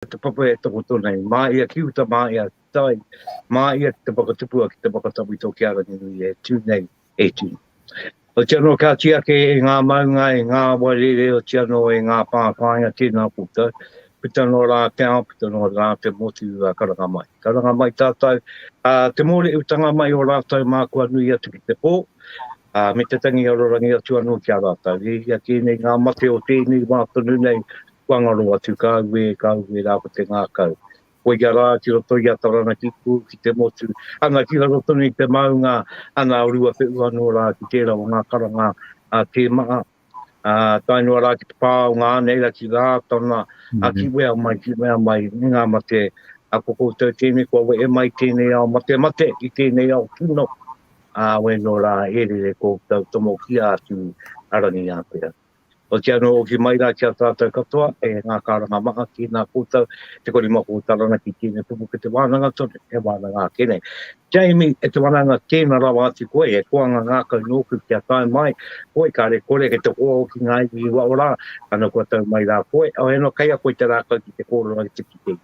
Ko te papa e takoto nei, mā ia ki uta, mā ia ki tai, mā ia ki te whakatupua ki te whakatawhito ki a Ranginui e tū nei, e tū. Oti anō ka oti ake e ngā maunga, e ngā awa rere, oti anō e ngā pā whāinga tēnā koutou, puta noa rā te ao, puta noa rā te motu, ā, karanga mai. Karanga mai tātou, ā, te mōreutanga mai o rātou mā kua nui atu ki te pō, ā, me te tangi arorangi atu anō ki a rātou. E hia kē nei ngā mate o tēnei wā tonu nei, Kua ngaro atu, ka auē, ka auē rā ko te ngākau. Koia rā, ki roto i a Taranaki pū, ki te motu, anga ki raro tonu i te maunga, ana a Ruapehu anō rā ki tērā o ngā karanga a Te Maa, ā, tae noa rā ki te pā o ngā aneira ki Rātana, ā, ki wea mai, ki wea mai, me ngā mate, ā, ko koutou tēnei kua wehe mai i tēnei ao matemate, i tēnei ao kino, ā, wē nō rā, e rere koutou tomokia atu a Rangiātea. Hoki anō hoki mai rā ki a tātou katoa, e ngā karanga maha ki nā koutou te korimako taranaki tēnei kupu ki te wānanga tonu, he wānanga ake nei. Jamie, e te wanaunga tēna rawa atu koe, e koanga ngākau nōku kia tae mai koe kare kore he te hoa hoki ngā iwi i waho rā, ano kua tau mai rā koe, awe ano kei a koe te rākau ki te kōrero ai te kite i.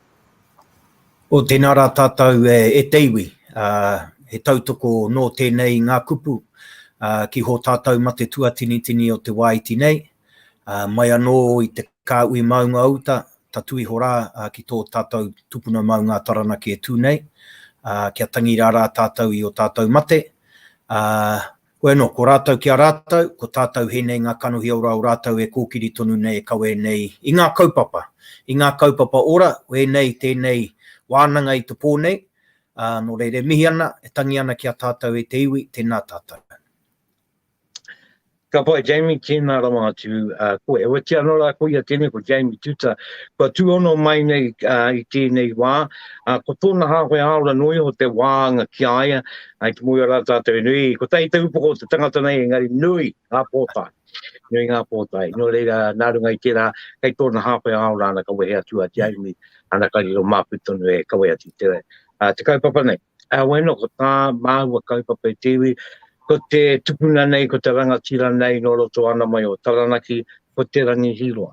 O tēnā rā tātou e te iwi, he tautoko nō tēnei ngā kupu ki hō tātou mate tuatinitini o te wāiti nei, mai anō i te kāhui maunga o uta, tatū iho rā ki tō tātou tupuna maunga a Taranaki e tū nei, kia tangi rā rā tātou i ō tātou mate, Koe anō, ko rātou ki a rātou, ko tātou he nei ngā kanohi ora o rātou e kōkiri tonu nei e kawe nei i ngā kaupapa, i ngā kaupapa ora, wēnei, tēnei wānanga i te pō nei, ā, nō reira e mihi ana, e tangi ana ki a tātou e te iwi, tēnā tātou. Ka pai, Jamie, tēnā rawa atu ā koe. Oatia anō rā ko ia tēnei, ko Jamie Tuta, kua tūhono mai nei i tēnei wā, ā, ko tōna hāwhe ā-ora noa iho te wāanga ki a ia, I te muia rā tātou i nui, kotahi te upoko o te tangata nei, engari nui ngā pōtae, nui ngā pōtae. Nō reira, nā runga i tērā, kei tōna hāpai ao rāna ka wehe atu a Te Aiumi, ana ka riro māku tonu e kawe atu i te, te kaupapa nei. Heoi anō, ko tā māua kaupapa e te iwi, ko te tupuna nei, ko te rangatira nei nō roto ana mai o Taranaki, ko Te Rangi Hīroa.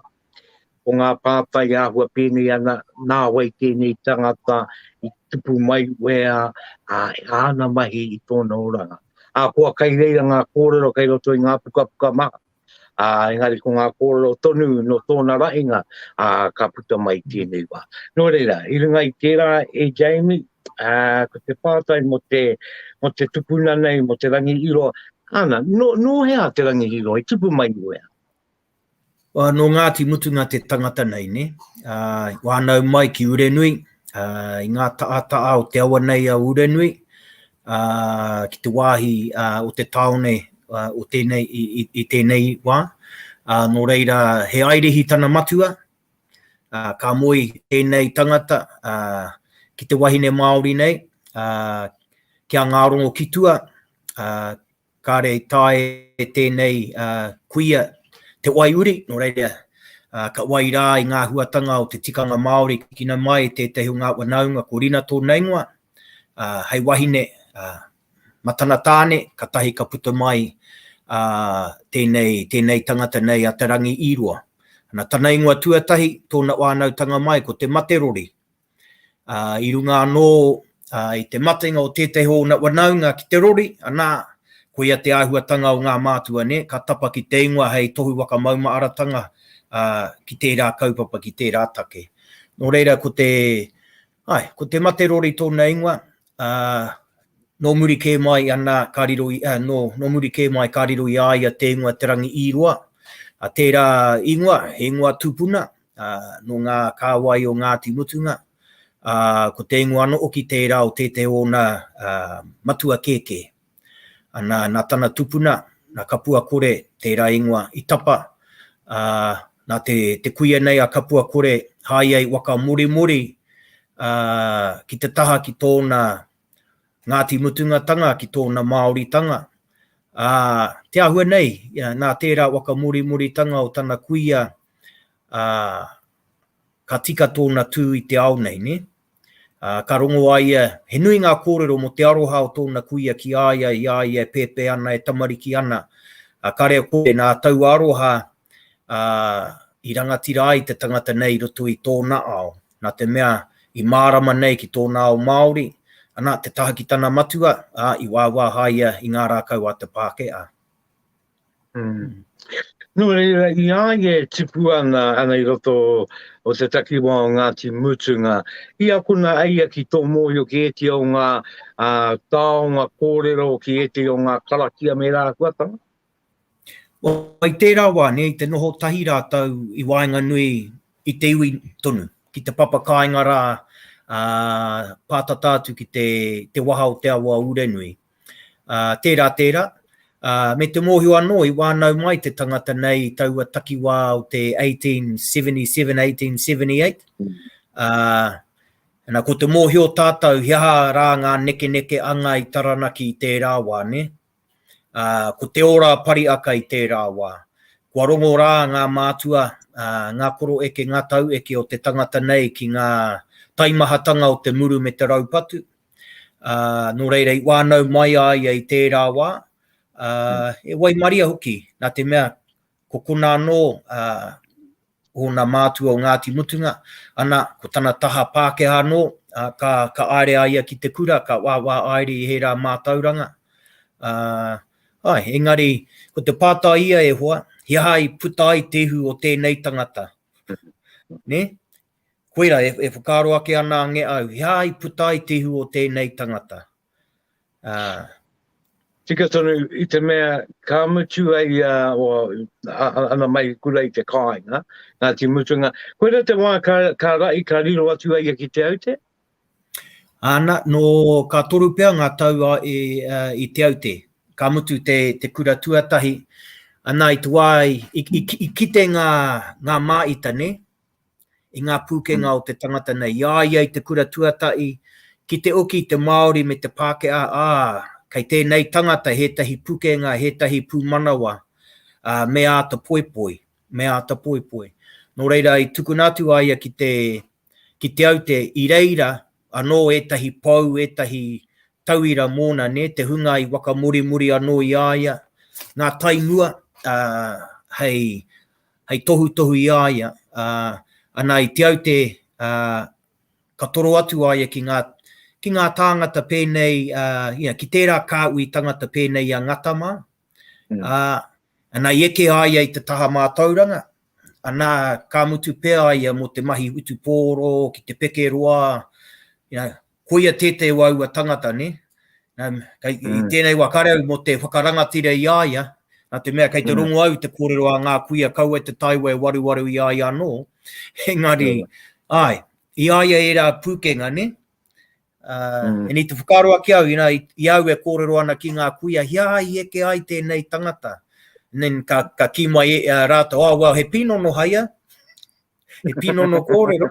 Ko ngā pātai āhua pēnei ana, nā wai tēnei tangata i tupu mai wea ā āna mahi i tōna oranga. Ahakoa kai reira ngā kōrero kai roto i ngā pukapuka maha, ā, engari ko ngā kōrero tonu nō tōna rahinga, ā, ka puta mai tēnei wā. Nō reira, i runga i tērā e Jamie, ā, ko te pātai mō te, mō te tupuna nei, mō Te Rangi Iro, ana, nō, nō hea te Rangi Iro i tupu mai wea? Well, no Ngāti Mutunga te tangata nei, ne? Uh, wānau mai ki Urenui, uh, i ngā taa o te awa nei a Urenui, uh, ki te wāhi uh, o te taone uh, o tēnei, i, i, i tēnei wā. Uh, nō reira, he airehi tana matua, uh, ka moe tēnei tangata uh, ki te wahine Māori nei, uh, ki a Ngārongo Kitua, uh, Kāre i tae e tēnei kuia te wai uri, nō reira, ka wai rā i ngā huatanga o te tikanga Māori kikina mai i tētahi o ngā wanaunga ko Rina tōna ingoa, hei wahine, ma tana tāne, katahi ka puta mai tēnei, tēnei tangata nei a Te Rangi-i-roa. Ana, tana ingoa tuatahi, tōna wānautanga mai ko Te Materori, Ā, i runga anō i te matenga o tētahi o ōna wanaunga ki te rori, anā, koia te āhuatanga o ngā mātua, nē, ka tapa ki te ingoa hei tohu whakamaumaaratanga ki tērā kaupapa, ki tērā take. Nō reira, ko te, āe, ko te mate rori tōna ingoa, ā, nō muri kē mai anā ka riro i, ā, nō, nō muri kē mai ka riro i a ia te ingoa Te Rangi-i-roa, ā, tērā ingoa, he ingoa tupuna, ā, nō ngā kāwai o Ngāti Mutunga, ā, ko te ingoa anō hoki tērā o tētehi o ōna matua kēkē. Ana, nā tana tupuna, nā Kapuakore tērā ingoa i tapa, ā, nā te, te kuia nei a Kapuakore haia i whakamorimori, ā, ki te taha ki tōna Ngāti Mutungatanga, ki tōna Māoritanga. Ā, te āhua nei, nā tērā whakamorimoritanga o tana kuia ā, ka tika tōna tū i te ao nei, nē? Ā, ka rongo a ia, he nui ngā kōrero mō te aroha o tōna kuia ki a ia i a ia e pēpē ana, e tamariki ana. Ā, ka reo koe, nā taua aroha, ā, i rangatira ai te tangata nei i roto i tōna ao, nā te mea, i mārama nei ki tōna ao Māori, ana, te taha ki tana matua, ā, i wāwāhaia i ngā rākau a te Pākehā. Mm. Nō reira, i a ia e tipu ana, ana i roto o te takiwā o Ngāti Mutunga, i akona a ia ki tō mōhio ki ēti o ngā uh, tāonga kōrero, ki ēti o ngā karakia me rāhuatanga? Wai tērā wā, ne, te noho tahi rātou i waenga nui i te iwi tonu, ki te papa kāinga rā, uh, pātata atu ki te, te waha o te awa o Urenui. Ā, tērā tērā, ā, me te mōhio anō i wānau mai te tangata nei i taua takiwā o te 1877-1878, ā, na, ko te mōhio tātou he aha rā ngā nekeneke anga i Taranaki i tērā wā, nē? Ā, ko te ora pariaka i tērā wā. Kua rongo rā ngā mātua, ā, ngā koroeke, ngā taueke o te tangata nei ki ngā taimahatanga o te muru me te raupatu, Ā, nō reira i wānau mai a ia i tērā wā, ā, e waimaria hoki, nā te mea, ko konā anō, ā, ōna mātua o Ngāti Mutunga, ana, ko tana taha Pākehā anō, ā, ka, ka āere a ia ki te kura, ka wāwā āere i ērā mātauranga. Ā, āe, engari, ko te pātai ia e hoa, he aha i puta ai te ihu o tēnei tangata? Nē? Koira, e whakaaro ake ana ange au, he aha i puta ai te ihu o tēnei tangata? Ā. Tika tonu, i te mea ka mutu ai a, ana mai i kura i te kāinga, nā te mutunga, koira te wā ka rahi, ka riro atu a ia ki Te Aute? Āna, nō ka toru pea ngā tau i Te Aute, ka mutu te kura tuatahi, ana i te wā i kite ngā māita, nē? i ngā pūkenga o te tangata nei, i a ia i te kura tuatahi, ki te oki i te Māori me te Pākehā, ā, kei tēnei tangata hētahi pukenga, hētahi pūmanawa, ā, me āta poipoi, me āta poipoi. Nō reira, i tukuna atu a ia ki te, ki Te Aute, i reira anō ētahi pou, ētahi tauira mōna, nē, te hunga i wakamorimori anō i a ia, ngā taimua, ā, hei, hei tohutohu i a ia, ā, ana i Te Aute, ā, ka toro atu a ia ki ngā, ki ngā tāngata pēnei, ā, ia, ki tērā kāhui tangata pēnei i a Ngata mā, ā, ana i eke a ia i te taha mātauranga, ana, ka mutu pea a ia mō te mahi whutupōro ki te pekeroa, you know, Koia tētei o aua tangata, nē? I tēnei wā, kāre au mō te whakarangatira i a ia, nā te mea kei te rongo au i te kōrero a ngā kuia kaua e te taiwa e waruwaru i a ia anō, engari, āe, i a ia ērā pūkenga, nē? E ni te whakaaro ake au, inā, i a au e kōrero ana ki ngā kuia, he aha i eke ai tēnei tangata? And then ka kī mai rātou, oh, well, he pīnono hai a, he pīnono kōrero.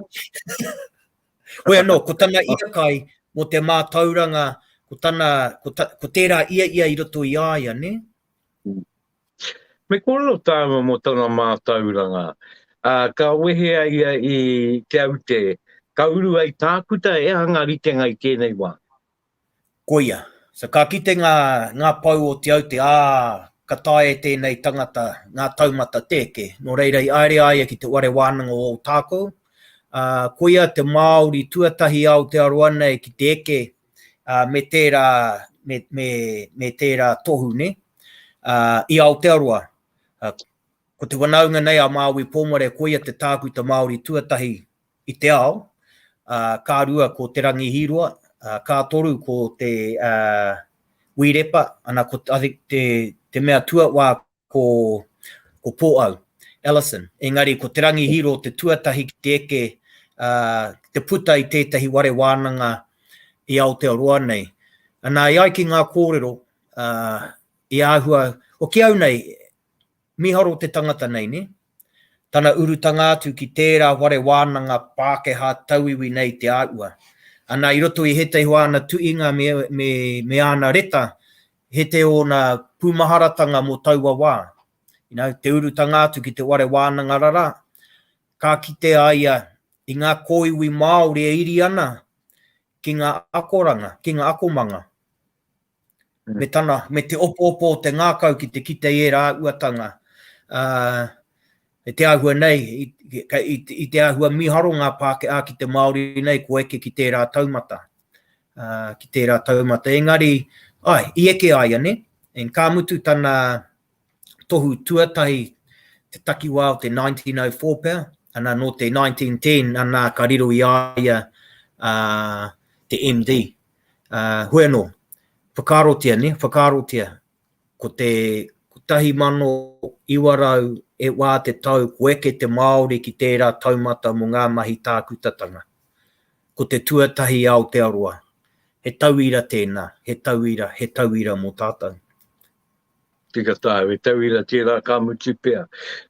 Hoi anō, ko tana iakae mō te mātauranga, ko tana, ko ta, ko tērā ia ia i roto i a ia, nē? Me kōrero tāua mō tana mātauranga, ā, ka wehe a ia i Te Aute, ka uru ai Tākuta e anga ritenga i tēnei wā. Koia, so ka kite ngā, ngā pou o Te Aute, ā, ka taea e tēnei tangata ngā taumata tēke, nō reira i aere a ia ki te whare wānanga o Ōtākou, ā, koia te Māori tuatahi a Aotearoa nei ki te eke, ā, me tērā, me, me, me tērā tohu, nē, ā, i Aotearoa. Ā, ko te whanaunga nei a Māui Pōmare, koia te tākuta Māori tuatahi i te ao, ā, ka rua ko Te Rangi Hīroa, ā, ka toru ko te, ā, Wī Repa, ana ko, I think, te, te mea tuawā ko, ko Pōʻau, Ellison. Engari ko Te Rangi Hīroa te tuatahi ki te eke, ā, ki te puta i tētahi ware wānanga i Aotearoa nei. Ana, e ai ki ngā kōrero, ā, i āhua, o ki au nei, Miharo te tangata nei, ne? Tana urutanga atu ki tērā whare wānanga Pākehā tauiwi nei te āhua. Ana i roto i hētahi o āna tuinga me āna reta, he te ōna pūmaharatanga mō taua wā. Te urutanga atu ki te whare wānanga rara, ka kite a ia i ngā kōiwi Māori e iri ana ki ngā akoranga, ki ngā akomanga. me tana, me te opoopo o te ngākau ki te kite i ērā uatanga. Te āhua nei, i te āhua mīharo ngā Pākehā ki te Māori nei kua eke ki tērā taumata. Ki tērā taumata, engari, ai, i eke a ia, ne? And ka mutu tana tohu tuatahi, te takiwā o te 1904 pea, ana nō te 1910, ana ka riro i a ia te MD, Hoi anō, whakaarotia, nē, whakaarotia, ko te 1900 e wā te tau kua eke te Māori ki tērā taumata mō ngā mahi tākutatanga. Ko te tuatahi Aotearoa. He tauira tēnā, he tauira, he tauira mō tātou. Tika tae, he tauira tērā ka mutu pea.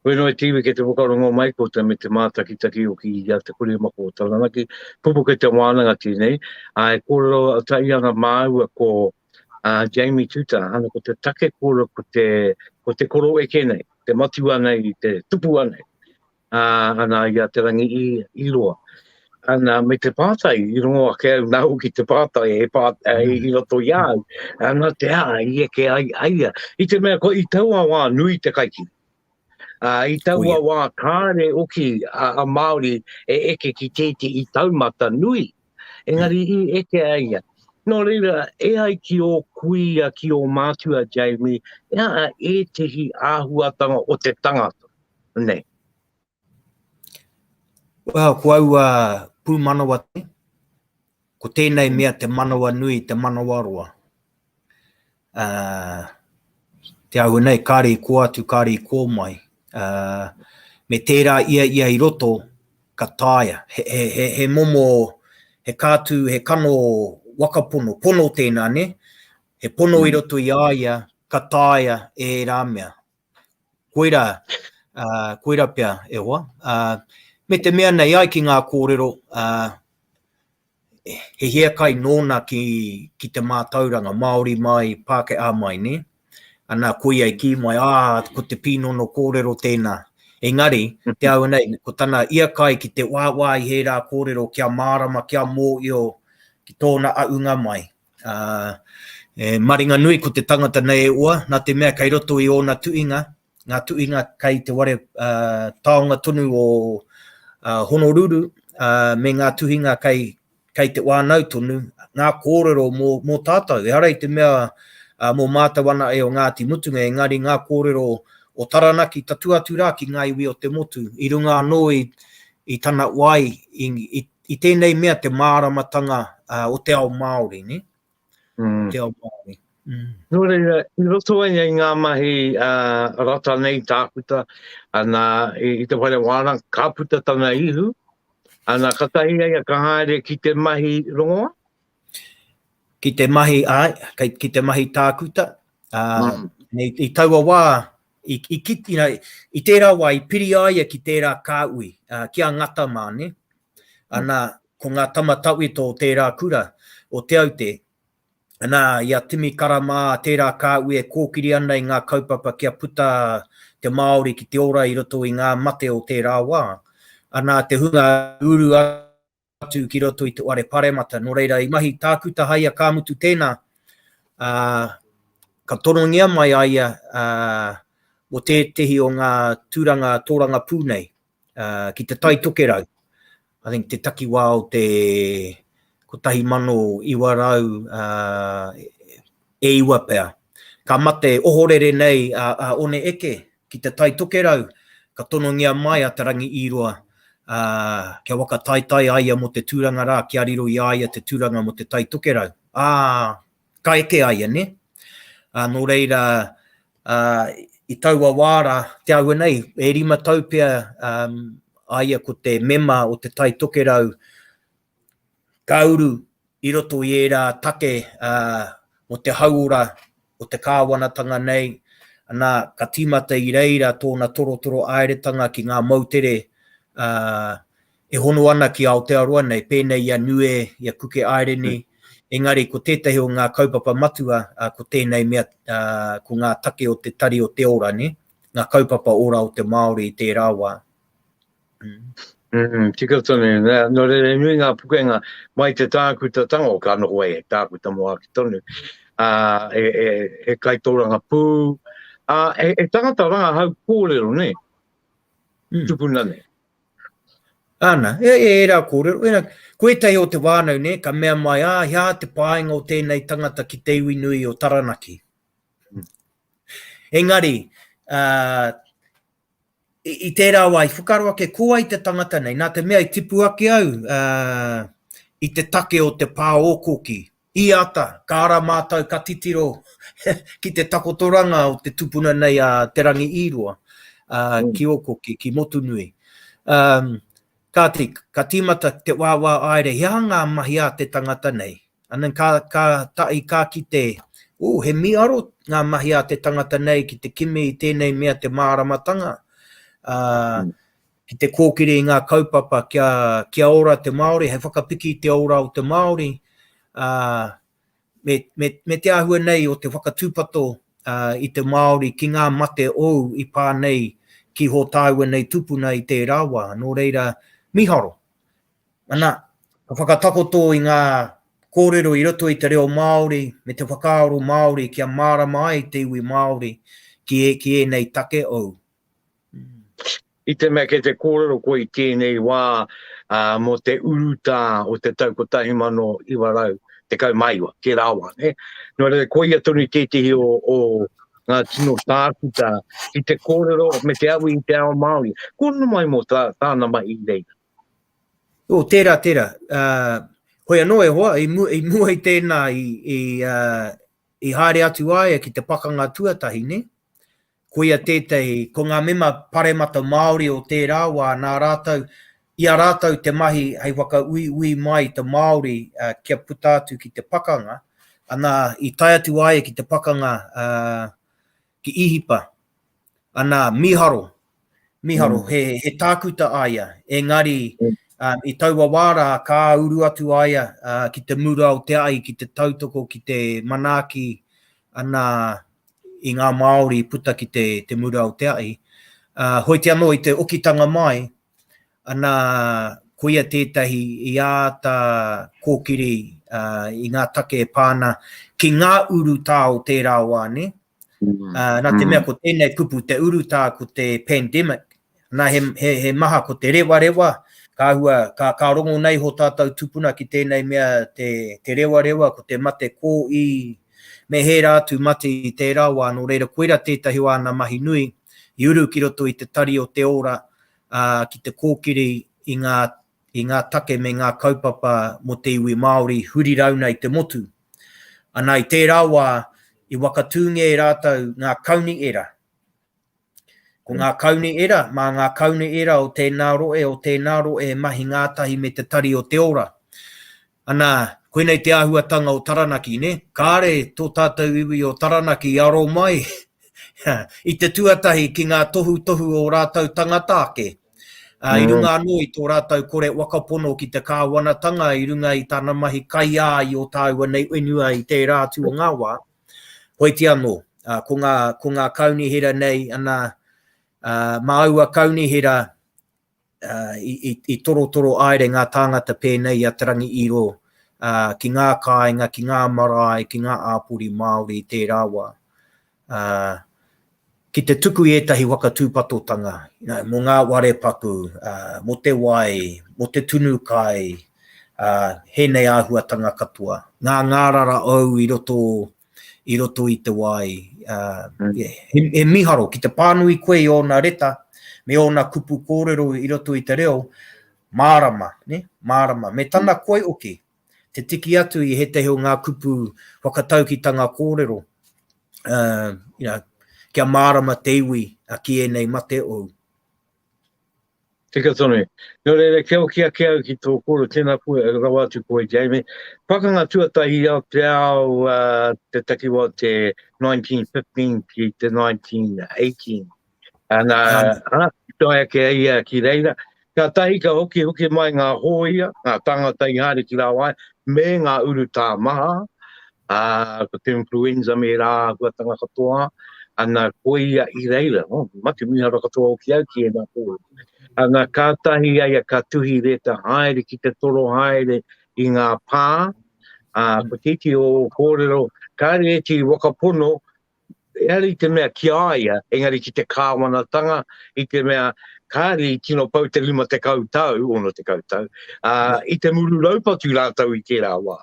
Koe noa i te iwi kei te whakarongo o Maikota me te mātakitaki o ki a Te Kuri Mako o Taranaki, kupu kei te wānanga tēnei, ā, e kōrero tahi ana māua ko a Jamie Tuta, ana ko te take kōrero ko te, ko te koro eke nei, te matua nei, te tupua nei. Ā, ana i a Te Rangi i, i roa. Ana, me te pātai, i rongo ake au nāu ki te pātai e pā, e, mm. i roto i au. Ana te ā, i eke ai, aia. I te mea, ko i taua wā nui te kaikiri. Uh, I taua wā kāre oki a, a Māori e eke ki tēti i taumata nui. Engari i eke a ia. Nō reira, e ai ki ō kuia, ki ō mātua, Jamie, e aha ētehi āhuatanga o te tangata? Nei. Well, ko au a uh, pūmanawa te, ko tēnei mea te manawa nui, te manawa roa. te ahua nei, kāre i kō atu, kāre i kō mai. me tērā ia ia i roto, ka taea. He, he, he, he momo, he kātū, he kano waka pono, pono tēnā, nē? He pono i roto i a ia, ka taea e ērā mea. Koira, uh, koira pea e hoa. Uh, me te mea nei ai ki ngā kōrero, uh, he hiakai nōna ki, ki te mātauranga, Māori mai, Pākehā mai, ne? Anā, koia i kī mai, ah, ko te pīnono kōrero tēnā. Engari, te au nei, ko tana iakai ki te wāwā i hērā kōrero kia mārama, kia mōio ki tōna aunga mai. Ā, e maringanui ko te tangata nei e oa, nā te mea kei roto i ōna tuinga, ngā tuinga kei te ware ā, taonga tonu o ā, Honoruru, ā, me ngā tuhinga kei, kei te wānau tonu, ngā kōrero mō, mō tātou, ehara i te mea ā, mō mātou ana e o Ngāti Mutunga, engari ngā kōrero o Taranaki tatū atu rā ki ngā iwi o te motu, i runga anō i, i tana wai, i, i, i tēnei mea te māramatanga uh, o te ao Māori, ne? Mm. Te ao Māori. Mm. Nō reira, i roto ai ai ngā mahi uh, rata nei tākuta, ana i, i te whare wāna, ka puta tana ihu, ana ka tahi ai a ka haere ki te mahi rongoa? Ki te mahi, ai, ki te mahi tākuta. Uh, mm. i, i taua wā, I tērā wā i piri a ia ki tērā kāui, ki a Ngata mā, nē? Ana, ko ngā tama tawhito o tērā kura, o Te Aute, ana, i a Timi Kara mā, tērā kāui e kōkiri ana i ngā kaupapa kia puta te Māori ki te ora i roto i ngā mate o tērā wā. Ana, te hunga uru atu. atu ki roto i te whare paremata. Nō reira, i mahi tākuta hai a Ka Mutu tēnā, ā, ka torongia mai a ia ā, mō tētehi o ngā tūranga tōrangapū nei, ā, ki Te Tai Tokerau, I think te takiwā o te 1900, ā, e iwa pea. Ka mate ohorere nei a, a One Eke, ki te Tai Tokerau, ka tonongia mai a Te Rangi i roa, ā, kia whakataetae a ia mō te tūranga rā, kia riro i a ia te tūranga mō te Tai Tokerau. Ā, ka eke a ia, nē? Ā, nō reira, ā, i taua wā rā, te aua nei, e rima tau pea, ā, a ia ko te mema o te Tai Tokerau, Ka uru i roto i ērā take mō te hauora o te kāwanatanga nei, nā, ka tīmata i reira tōna torotoro āeretanga ki ngā moutere e hono ana ki Aotearoa nei, pēnei i a Nue, i a Kuke Aireni, engari ko tētahi o ngā kaupapa matua ko tēnei mea, ko ngā take o te Tari o te Ora, nē, ngā kaupapa ora o te Māori i tērā wā. Mm, tika tonu. Nā, nō reira e nui ngā pukenga mai te tākuta tango, ka noho ai he tākuta mō ake tonu, ā, he, he, he kaitōranga pū, ā, he, he tangata rangahau kōrero, nē, mm. tupuna nei. Ana, e, e, e rā kōrero, e rā, ko ētahi o te wānau, nē, ka mea mai, ā, hea te pāinga o tēnei tangata ki te iwi nui o Taranaki. Mm. Engari, ā, I tērā wā, i whakaaro ake ko wai te tangata nei, nā te mea i tipu ake au i te take o te pā ōkoki. I ata, ka ara mātou ka titiro ki te takotoranga o te tupuna nei a Te Rangi-i-roa ki ōkoki, ki Motunui. Kāti, ka tīmata te wāwā āere he aha ngā mahi ā te tangata nei. And then ka, ka tahi ka kite, ooh, he mīharo ngā mahi ā te tangata nei ki te kimi i tēnei mea te māramatanga, ā, ki te kōkiri i ngā kaupapa kia, kia ora te Māori, hei whakapiki i te ora o te Māori, ā, me, me, me te āhua nei o te whakatūpato uh, i te Māori ki ngā mate ou i pā nei ki hō tāua nei tupuna i tērā wā, nō reira miharo. Ana, ka whakatakoto i ngā kōrero i roto i te reo Māori me te whakaaro Māori kia mārama ai te iwi Māori ki, e, ki ēnei take ou. I te mea kei te kōrero koe i tēnei wā mō te urutā o te tau 1919, tērā wā, ne? Nō reira, koia tonu tētehi o, o ngā tino tākuta ki te kōrero me te awi i te ao Māori. Ko nu mai mō tā, tāna mai i reira? O, tērā, tērā. Uh, hoi anō e hoa, i, mu, i mua i tēnā, i, i, uh, i haere atu aia ki te pakanga tuatahi, ne? Koia tētahi, ko ngā mema paremata Māori o tērā wā nā rātou, i a rātou te mahi hei whakauiui mai i te Māori kia puta atu ki te pakanga, ana, i tae atu a ia ki te pakanga ki Īhipa, ana, mīharo, mīharo, he, he tākuta a ia, engari, i taua wā rā, ka uru atu a ia ki te mura o te ai, ki te tautoko, ki te manaaki, ana, i ngā Māori i puta ki te, te mura o te ahi, ā, hoiti anō i te okitanga mai, ana, koia tētahi i āta kōkiri ā, i ngā take e pā ana ki ngā urutā o tērā wā, nē? Ā, nā te mea ko tēnei kupu, te urutā ko te pandemic, Nā, he, he, he maha ko te rewarewa, ka hua, ka, ka rongo nei ho tātou tupuna ki tēnei mea te, te rewarewa, ko te mate kō i, me hērā atu mate i tērā wā, nō reira koira tētahi o āna mahi nui, i uru ki roto i te tari o te ora, ā, ki te kōkiri i ngā, i ngā take me ngā kaupapa mō te iwi Māori huri rauna i te motu. Anā, i tērā wā, i wakatūngia e rātou ngā kaunihera, Ko ngā kauni era, mā ngā kauni era o tēnā roe, o tēnā roe e mahi ngātahi me te Tari o te Ora. Anā, koinei te āhuatanga o Taranaki, nē? Kāre tō tātou iwi o Taranaki i aro mai i te tuatahi ki ngā tohutohu o ō rātou tangata ake, ā, i runga anō i tō rātou kore whakapono ki te kāwanatanga i runga i tana mahi kaiā i ō tāua nei whenua i tērā atu o ngā wā. Hoiti anō, ko ngā, ko ngā kaunihera nei, anā, mā aua kaunihera i, i, i torotoro aere ngā tāngata pēnei i a Te Rangi Iro ki ngā kāinga, ki ngā marae, ki ngā āpori Māori i tērā wā. Ki te tuku i ētahi waka tūpatotanga, mō ngā ware paku, mō te wai, mō te tunu kai, hēnei āhuatanga katoa. Ngā ngārara ou i roto, i roto i te wai. He miharo, ki te pānui koe i ōna reta, me ōna kupu kōrero i roto i te reo, mārama, mārama. Me tana koi hoki, te tiki atu i ētehi o ngā kupu whakataukitanga kōrero, you know, kia mārama te iwi ki ēnei mate ou. Tika tonu. Nō reira, kia hoki ake au ki tō kōrero, tēnā koe, rawa atu koe, Jamie. Pakanga tuatahi o te ao, te takiwā o te 1915 ki te 1918. Ana, ana, i toi ake ai ia ki reira. Ka tahi ka hoki hoki mai ngā hōia, ngā tāngata i haere ki rāwai, me ngā urutā maha, ā, ko te influenza me rā huatanga katoa, ana, ko ia i reira, oh, mate miharo katoa hoki au ki ēnā pō. Ana, ka tahi ai a ka tuhi reta haere ki te toro haere i ngā pā, ā, ko tēti o kōrero, kāre ēti wakapono, Ehara i te mea ki a ia, engari ki te kāwanatanga, i te mea kāre i tino pau te rima te kau tau, ono te kau tau, a, i te muru raupatu rātau i tērā wā.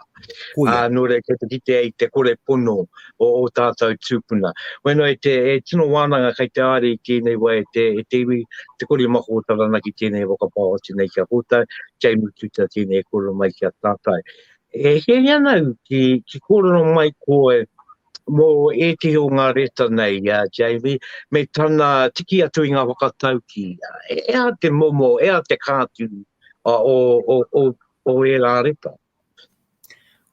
Kuia. A, nō reira, kia te kite ai te kore pono o, o tātau tūpuna. Wena e te e tino wānanga kei te āre i tēnei wā e te, e te iwi, te kori mako o Taranaki tēnei whakapā o tēnei kia kōtau, kia i mutu tā tēnei e kōrero mai ki a tātau. E hiahiana au ki, ki kōrero mai koe, Mō ētehi o ngā reta nei i a Jamie, me tana tiki atu i ngā whakataukī, he aha te momo, he aha te kāti o ērā reta?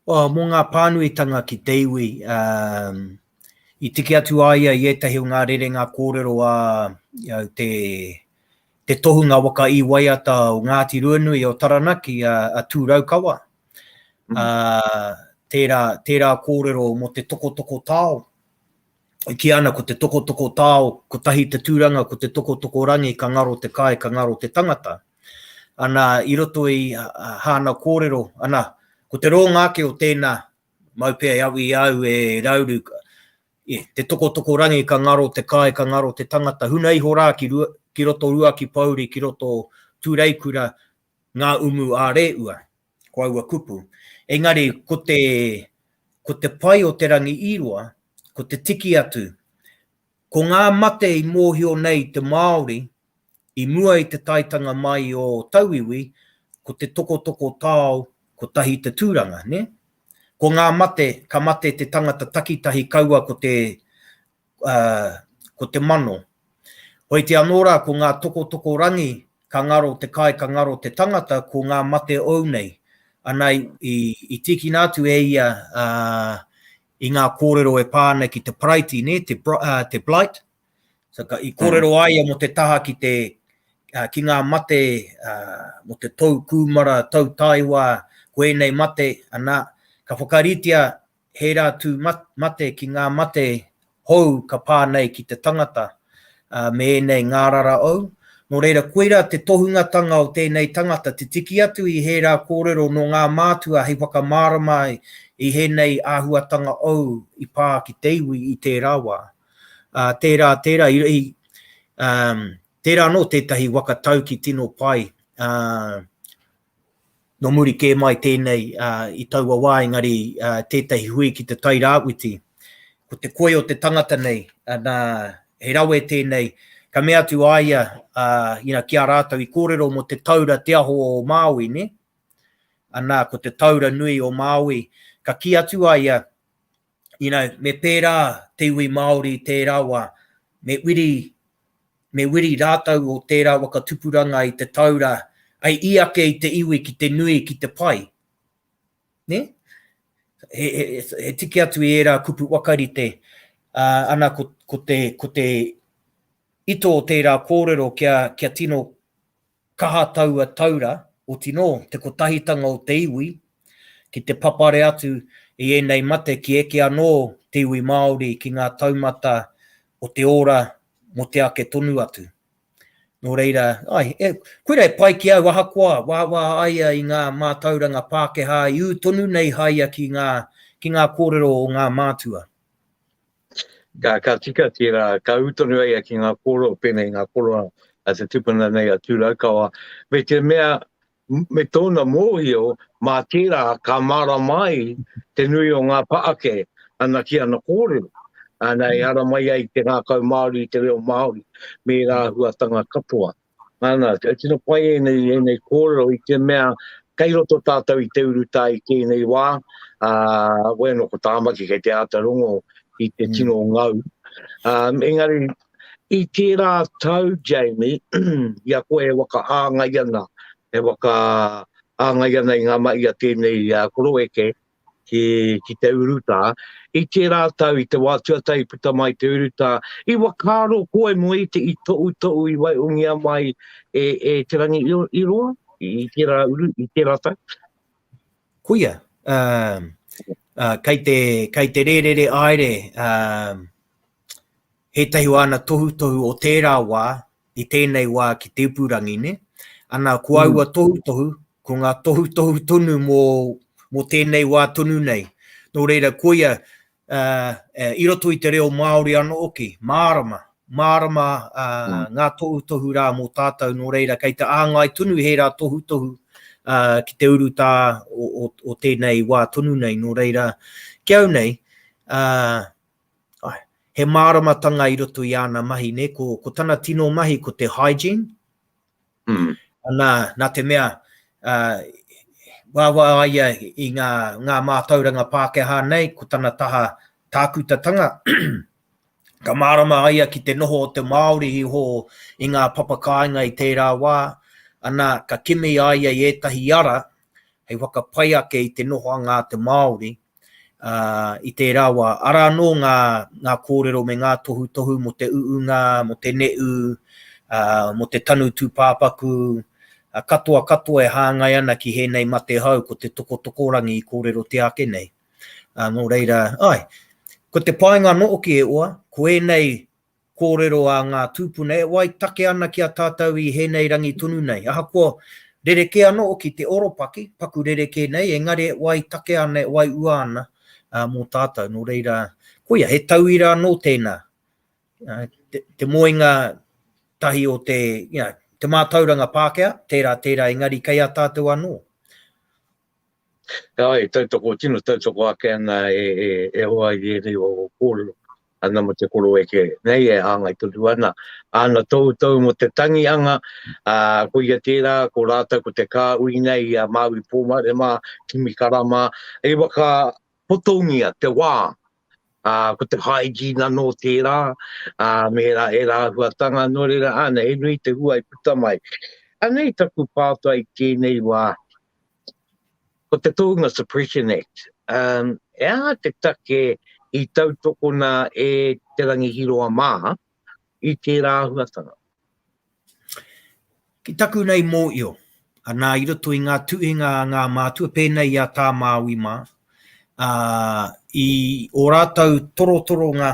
Mō ngā pānuitanga ki te iwi, i tiki atu a ia i ētahi o ngā rerenga kōrero a te tohunga waka i waiata o Ngāti Ruanui o Taranaki, a Tū Raukawa, tērā, tērā kōrero mō te tokotoko tao, e kī ana ko te tokotoko tao, kotahi te tūranga, ko te tokotoko rangi, ka ngaro te kai, ka ngaro te tangata. Ana, i roto i hāna kōrero, ana, ko te rōnga ake o tēnā, mau pea e awi i a au e Rauru, e, te tokotoko rangi, ka ngaro te kai, ka ngaro te tangata, huna iho rā ki, ki roto Ruakipōuri, ki roto Tūreikura, Ngā umu ā-rēua, ko aua kupu. Engari, ko te, ko te pai o Te Rangi i Roa, ko te tiki atu, ko ngā mate i mōhio nei te Māori i mua i te taetanga mai o tauiwi, ko te tokotoko tao kotahi te tūranga, nē? Ko ngā mate, ka mate te tangata takitahi kaua ko te, ko te mano. Hoiti anō rā ko ngā tokotoko rangi ka ngaro te kai ka ngaro te tangata ko ngā mate ou nei. Ana i tīkina atu e ia i ngā kōrero e pā ana ki te Paraiti nē, te Blight. I kōrero a ia mō te taha ki te ki ngā mate mō te tou kūmara, tou taewa, ko ēnei mate, ana ka whakaritea He rā tū mate ki ngā mate hou ka pā nei ki te tangata me ēnei ngārara ou. Nō reira, koirā te tohungatanga o tēnei tangata, te tiki atu i he rā kōrero nō ngā mātua hei whakamārama i hēnei āhuatanga ou i pā ki te iwi i tērā wā. Tērā, tērā, tērā anō tētahi waka tauki tino pai Nō muri kē mai tēnei i taua wā engari tētahi hui ki te Tai Rāwhiti, ko te koi o te tangata nei, nā, he rawe tēnei, ka mea atu a ia ki a rātou i kōrero mō te taura Te Aho o Māui, nē? Anā, ko te taura nui o Māui, ka kī atu a ia, you know, me pērā te iwi Māori i tērā wā, me wiri, me wiri rātou o tērā waka tupuranga i te taura, ai i ake i te iwi ki te nui, ki te pai. Ne? He, he, he tiki atu i ērā kupu wakarite, uh, ana ko, ko, te, ko te ito o tērā kōrero kia, kia tino Kaha taua taura, oti nō te kotahitanga o te iwi ki te papare atu i ēnei mate ki eke anō te iwi Māori ki ngā taumata o te ora mō te ake tonu atu. Nō reira, āe, koirā e pai ki au ahakoa wāwā a ia i ngā mātauranga Pākehā i ū tonu nei haia ki ngā kōrero o ngā mātua. Ka, ka tika tērā, ka ū tonu ai ki ngā kōrero, pēnei ngā kōrero a te tupuna nei a Tūraukawa, me te mea, me tōna mōhio, mā tērā ka mārama ai te nui o ngā paake ana ki ana kōrero. Ana e ara mai ai te ngākau Māori i te reo Māori, me rā huatanga katoa. Ana, e tino pai e nei, e nei kōrero i te mea, kei roto tātou i te urutā i tēnei wā, uh, wē no ko tāmaki kei te āta rongo i te mm. tino ngau. Um, engari, i tērā tau, Jamie, i a koe e waka āngai ana, e waka āngai ana i ngā mai a tēnei uh, koroeke, ki, ki te urutā, i tērā tau, i te wā tuatahi i puta mai te urutā, i whakaaro koe mō i te i toʻutoʻu i waihongia mai e, e Te Rangi i, i roa, i, i tērā uru, i tērā tau? Kuia, um, uh, kei, te, kei te rērere aere, um, he tahi o ana tohutohu o tērā wā, i tēnei wā ki te ipurangi, ne? Ana, ko aua tohutohu, ko ngā tohutohu tonu mō, mō tēnei wā tonu nei. Nō reira, koia, uh, i roto i te reo Māori anō hoki, mārama, mārama uh, mm. ngā tohutohu rā mō tātou, nō reira, kei te āngai tonu he rā tohutohu uh, ki te urutā o, o, o tēnei wā tonu nei, nō reira, ki au nei, uh, He māramatanga i roto i āna mahi nei, ko tana tino mahi ko te hygiene, nā te mea uaua a ia i ngā mātauranga Pākehā nei, ko tana taha tākutatanga, ka mārama a ia ki te noho o te Māori iho i ngā papakāinga i tērā wā, ana, ka kimi a ia i ētahi ara hei whakapai ake i te nohoanga a te Māori Ā, i tērā wā, arā anō ngā, ngā kōrero me ngā tohutohu mō te uunga, mō te neʻu, ā, mō te tanu tūpāpaku, ā, katoa katoa e hāngai ana ki hēnei mate hou ko te tokotokorangi i kōrerotia ake nei. Ā, nō reira, āe, ko te painga noʻoki e oa, ko ēnei Kōrero a ngā tūpuna, e wai take ana ki a tātou i hēnei rangi tonu nei. Ahakoa rerekē anō ki te oropaki, paku rerekē nei, engari e wai take ana, e wai ua ana mō tātou. Nō reira, koia, he tauira anō tēnā, te moenga tahi o te, you know, te mātauranga Pākehā, tērā, tērā, engari kei a tātou anō. Heoi, e tautoko, tino tautoko ake ana e hoa i ēnei o ō kōrero ana mō te koro eke nei e hāngai tonu ana. Āna toutou mō te tangi anga, ā, ko ia tērā, ko rātou ko te kāhui nei i a Māui Pōmare mā, kimi kara mā, hei whakapotongia te wā, ā, ko te hygiene anō tērā, ā, me ērā, ērā āhuatanga, nō reira, āna, he nui te hua i puta mai. Anei taku pātai i tēnei wā, Ko te Tōunga Suppression Act, he aha te take i tautokona e Te Rangi Hiroa mā i tērā āhuatanga? Ki taku nei mōio, anā i roto i ngā tuhinga a ngā mātua, pēnei i a Tā Māui mā, i ō rātou torotoronga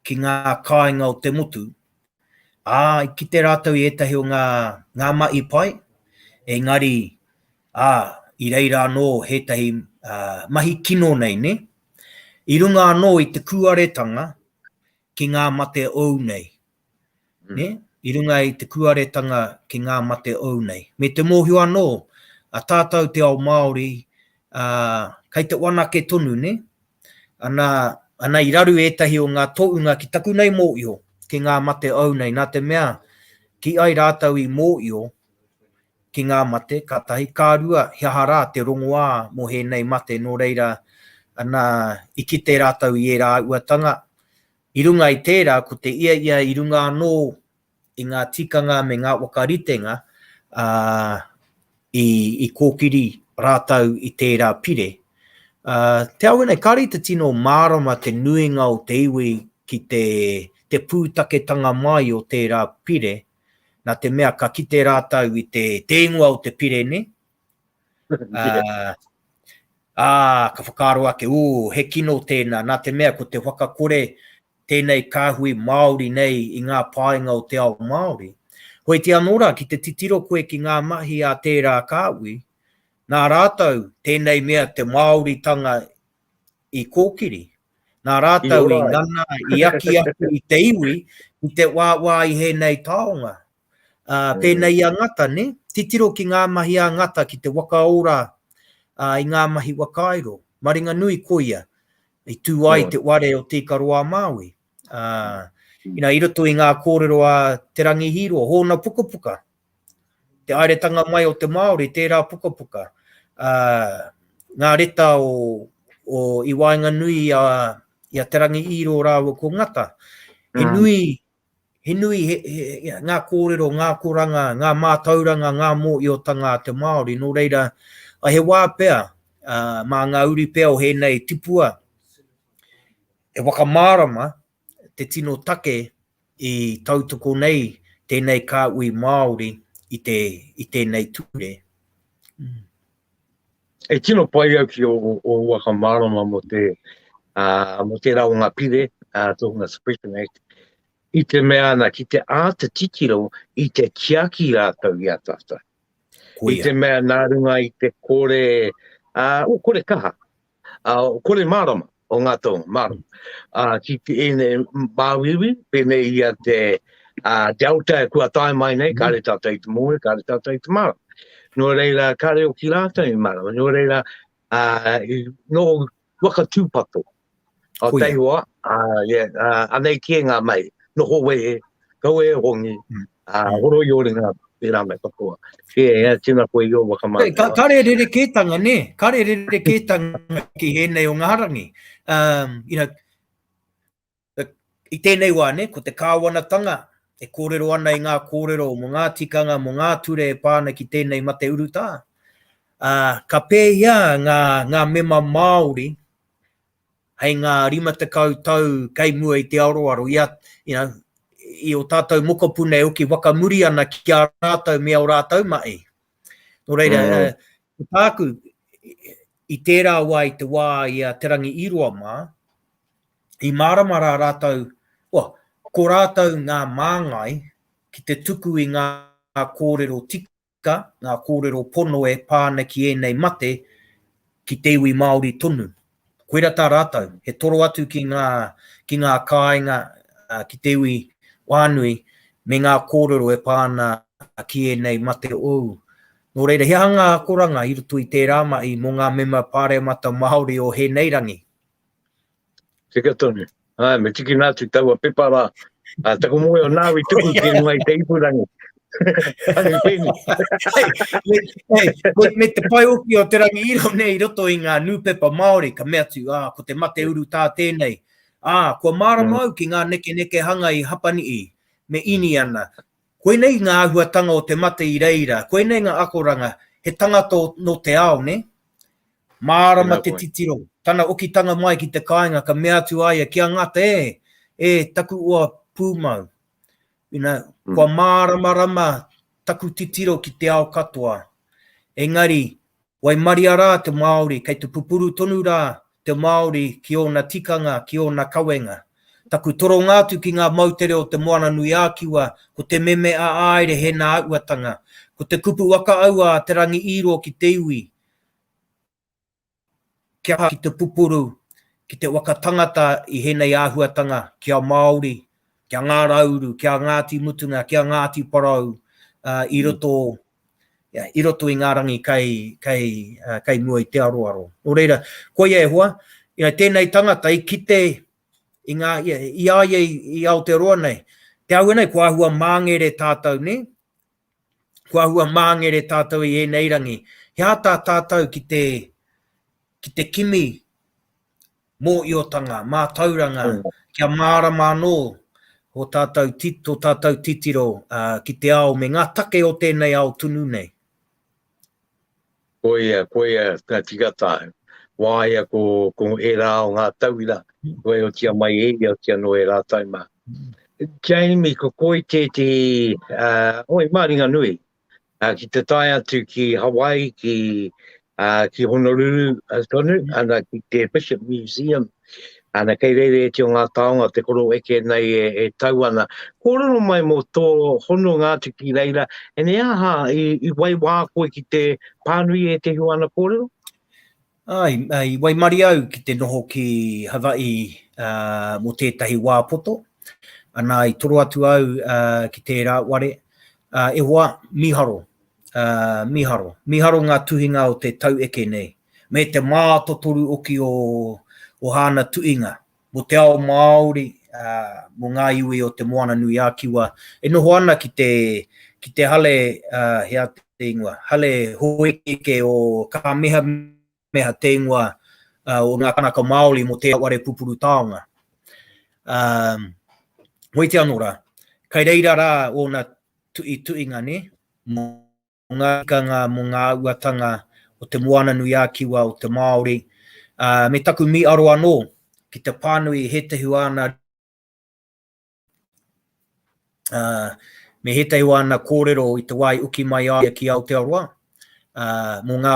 ki ngā kāinga o te motu, Ā, i kite rātou i ētahi o ngā, ngā mahi pai, engari, ā, i reira anō ētahi, ā, mahi kino nei, nē? I runga anō i te kūaretanga ki ngā mate ou nei, nē? I runga i te kūaretanga ki ngā mate ou nei. Me te mōhio anō, a tātou te ao Māori, ā, kei te whanake tonu, nē? Ana, ana i raru ētahi o ngā toʻunga ki taku nei mōʻio, ki ngā mate ou nei, nā te mea, kī ai rātou i mōʻio ki ngā mate, ka tahi, ka rua, he aha rā te rongoā mō hēnei mate, nō reira, ana, i kite rātou i ērā auatanga, i runga i tērā, ko te ia ia i runga anō i ngā tikanga me ngā waka ritenga i kōkiri rātou i tērā pire. Te ao nei, kāre i te tino mārama te nuinga o te iwi ki te pūtaketanga mai o tērā pire, nā te mea ka kite rātou i te ingoa o te pire nei, ā, ka whakaaro ake, ū, he kino tēnā, nā te mea ko te whakakore tēnei kāhui Māori nei i ngā painga o te ao Māori. Hoiti anō rā, ki te titiro koe ki ngā mahi a tērā kāhui, nā rātou tēnei mea te Māoritanga i kōkiri, nā rātou i ngana, i aki atu i te iwi, i te wāwā i hēnei taonga. Pēnei i a Ngata, nē? Titiro ki ngā mahi a Ngata ki te waka ora i ngā mahi whakairo. Maringanui, koia, I tū ai i te ware o Tīkaroa-a-Māui. Inā, i roto i ngā kōrero a Te Rangi Hīroa, hōna pukapuka, te haeretanga mai o te Māori, tērā pukapuka, ngā reta o, o i waenganui i a, i a Te Rangi Hīroa rāua ko Ngata, he nui, He nui ngā kōrero, ngā akoranga, ngā mātauranga, ngā mōiotanga a te Māori, nō reira, he wā pea, mā ngā uri pea o hēnei tipua, e whakamārama te tino take i tautoko nei tēnei kāhui Māori i tēnei ture. E tino pai au ki o, o waka mārama mo te, uh, mo te rao ngā pire, uh, tōhunga Suppression Act, i te mea ana ki te āta titiro i te tiaki rātou i a tātou. I te mea nā runga i te kore, uh, o kore kaha, ā, kore mārama o ngā taonga, mārama. Ā, ki ēnei māuiui, pēnei i a te Delta e kua tae mai nei, kāre tātou i te moe, kāre tātou i te mārama. Nō reira, kāre o ki rātou i mārama, nō reira, ā, nō waka tūpato, Aotearoa, anei kē ngā mahi, noho wehe, kaua e hongi, horoi oringa, tērā me katoa. Kē, tēnā koe i ō whakamātau. Kare rerekētanga, nē, kare rerekētanga ki ēnei o ngā rangi. I tēnei wā, nē, ko te kāwanatanga e kōrero ana i ngā kōrero mō ngā tikanga, mō ngā ture e pā ana ki tēnei mate urutā. Ka pēhia ngā mema Māori hei ngā rima tekau tau kei mua i te aroaro, i a, you know, i o tātou mokopuna e oki whakamuri ana ki a rātou me o rātou mahi. Nō reira, mm. uh, tāku, i tērā wā i te wā i a Te Rangi Iroa mā, i mārama rā rātou, well, ko rātou ngā māngai ki te tuku i ngā kōrero tika tika ngā kōrero pono e pā ana ki ēnei mate ki te iwi Māori tonu. Koirā tā rātou, he toro atu ki ngā, ki ngā kāinga ki te iwi whānui me ngā kōrero e pā ana ki ēnei mate ōu. Nō reira, he aha ngā akoranga i roto i tērā mahi mō ngā mema Pāremata Māori o hēnei rangi? Tika tonu. Hai, me tiki nā tu taua pepa rā. Uh, taku moe o nāwi tuku ki e ngai te ipurangi. Hai, pēni. Hei, me, me te pai uki o te rangi iro nei roto i ngā nūpepa Māori, ka mea tu, ah, ko te mate uru tā tēnei. Ah, kua mārama mm. au ki ngā neke neke hanga i Hapani i, me Iniana. Koinei ngā āhuatanga o te mate i reira, koinei ngā akoranga, he tangata nō te ao, nē? Mārama te titiro, tana okitanga mai ki te kāinga ka mea atu a ia ki a Ngata, E! E taku oa pūmau, you know, kua māramarama taku titiro ki te ao katoa. Engari, Waimaria rā te Māori, kei te pupuru tonu rā te Māori ki ōna tikanga, ki ōna kawenga. Taku toronga atu ki ngā moutere o Te Moana-nui-ā-Kiwa ko te meme a Aere he nā uatanga, ko te kupu whakaaua a Te Rangi-ī-roa ki te iwi, Kia aha ki te pupuru ki te waka tangata i henei āhuatanga ki a Māori, ki a Ngā Rauru, ki a Ngāti Mutunga, ki a Ngāti Porou i roto i roto i ngā rangi kei kei kei mua i te aroaro. Nō reira, koia e hoa, tēnei tangata i kite i ngā i a ia i Aotearoa nei, te au nei ko āhua māngere tātou nē, Ko ahua māngere tātou i ēnei rangi, he āta tātou ki te, ki te kimi mōiotanga, mātauranga, kia mārama anō o tātou, tō tātou titiro uh, ki te ao me ngā take o tēnei ao tunu nei. Koia, koia ka tika tāu. Wāia ko, ko ērā o ngā tauira, kua e otia mai e ia, otia noa e rātou mā. Jamie, ko koi tētehi, uh, oi, māringa nui, uh, ki te tae atu ki Hawaii, ki, uh, ki Honolulu, uh, tonu, ana ki te Bishop Museum, Ana, kei reireitia ngā taonga o te koro eke nei e, e tau ana. Kōrero mai mō tō hononga atu ki reira, e nei aha, i, i waiwā koe ki te pānui e te hiwa ana kōrero? Ai, ai, waimari au ki te noho ki Hawaii uh, mō tētahi wā poto. Ana, i toro atu au uh, ki tērā ware. Uh, e hoa, miharo, uh, miharo, miharo ngā tuhinga o te tau eke nei. me te mātotoru oki o o hāna tuinga mo te ao Māori, ā, mo ngā iwi o Te Moana-nui-ā-Kiwa e noho ana ki te, ki te hale, ā, he aha te ingoa, hale hōekeeke o Kāmehameha te ingoa, ā, o ngā Kanaka Māori mo tērā ware pupuru taonga. Ā, weiti anō rā, kai reira rā ōna tuituinga, nē, mo. o ngā tikanga mō ngā auatanga o Te Moananui-a-Kiwa o te Māori, ā, me taku mīharo anō ki te pānui i ētahi o āna ritenga, ā, me ētahi o āna kōrero i te wā i uki mai a ia ki Aotearoa, ā, mō ngā,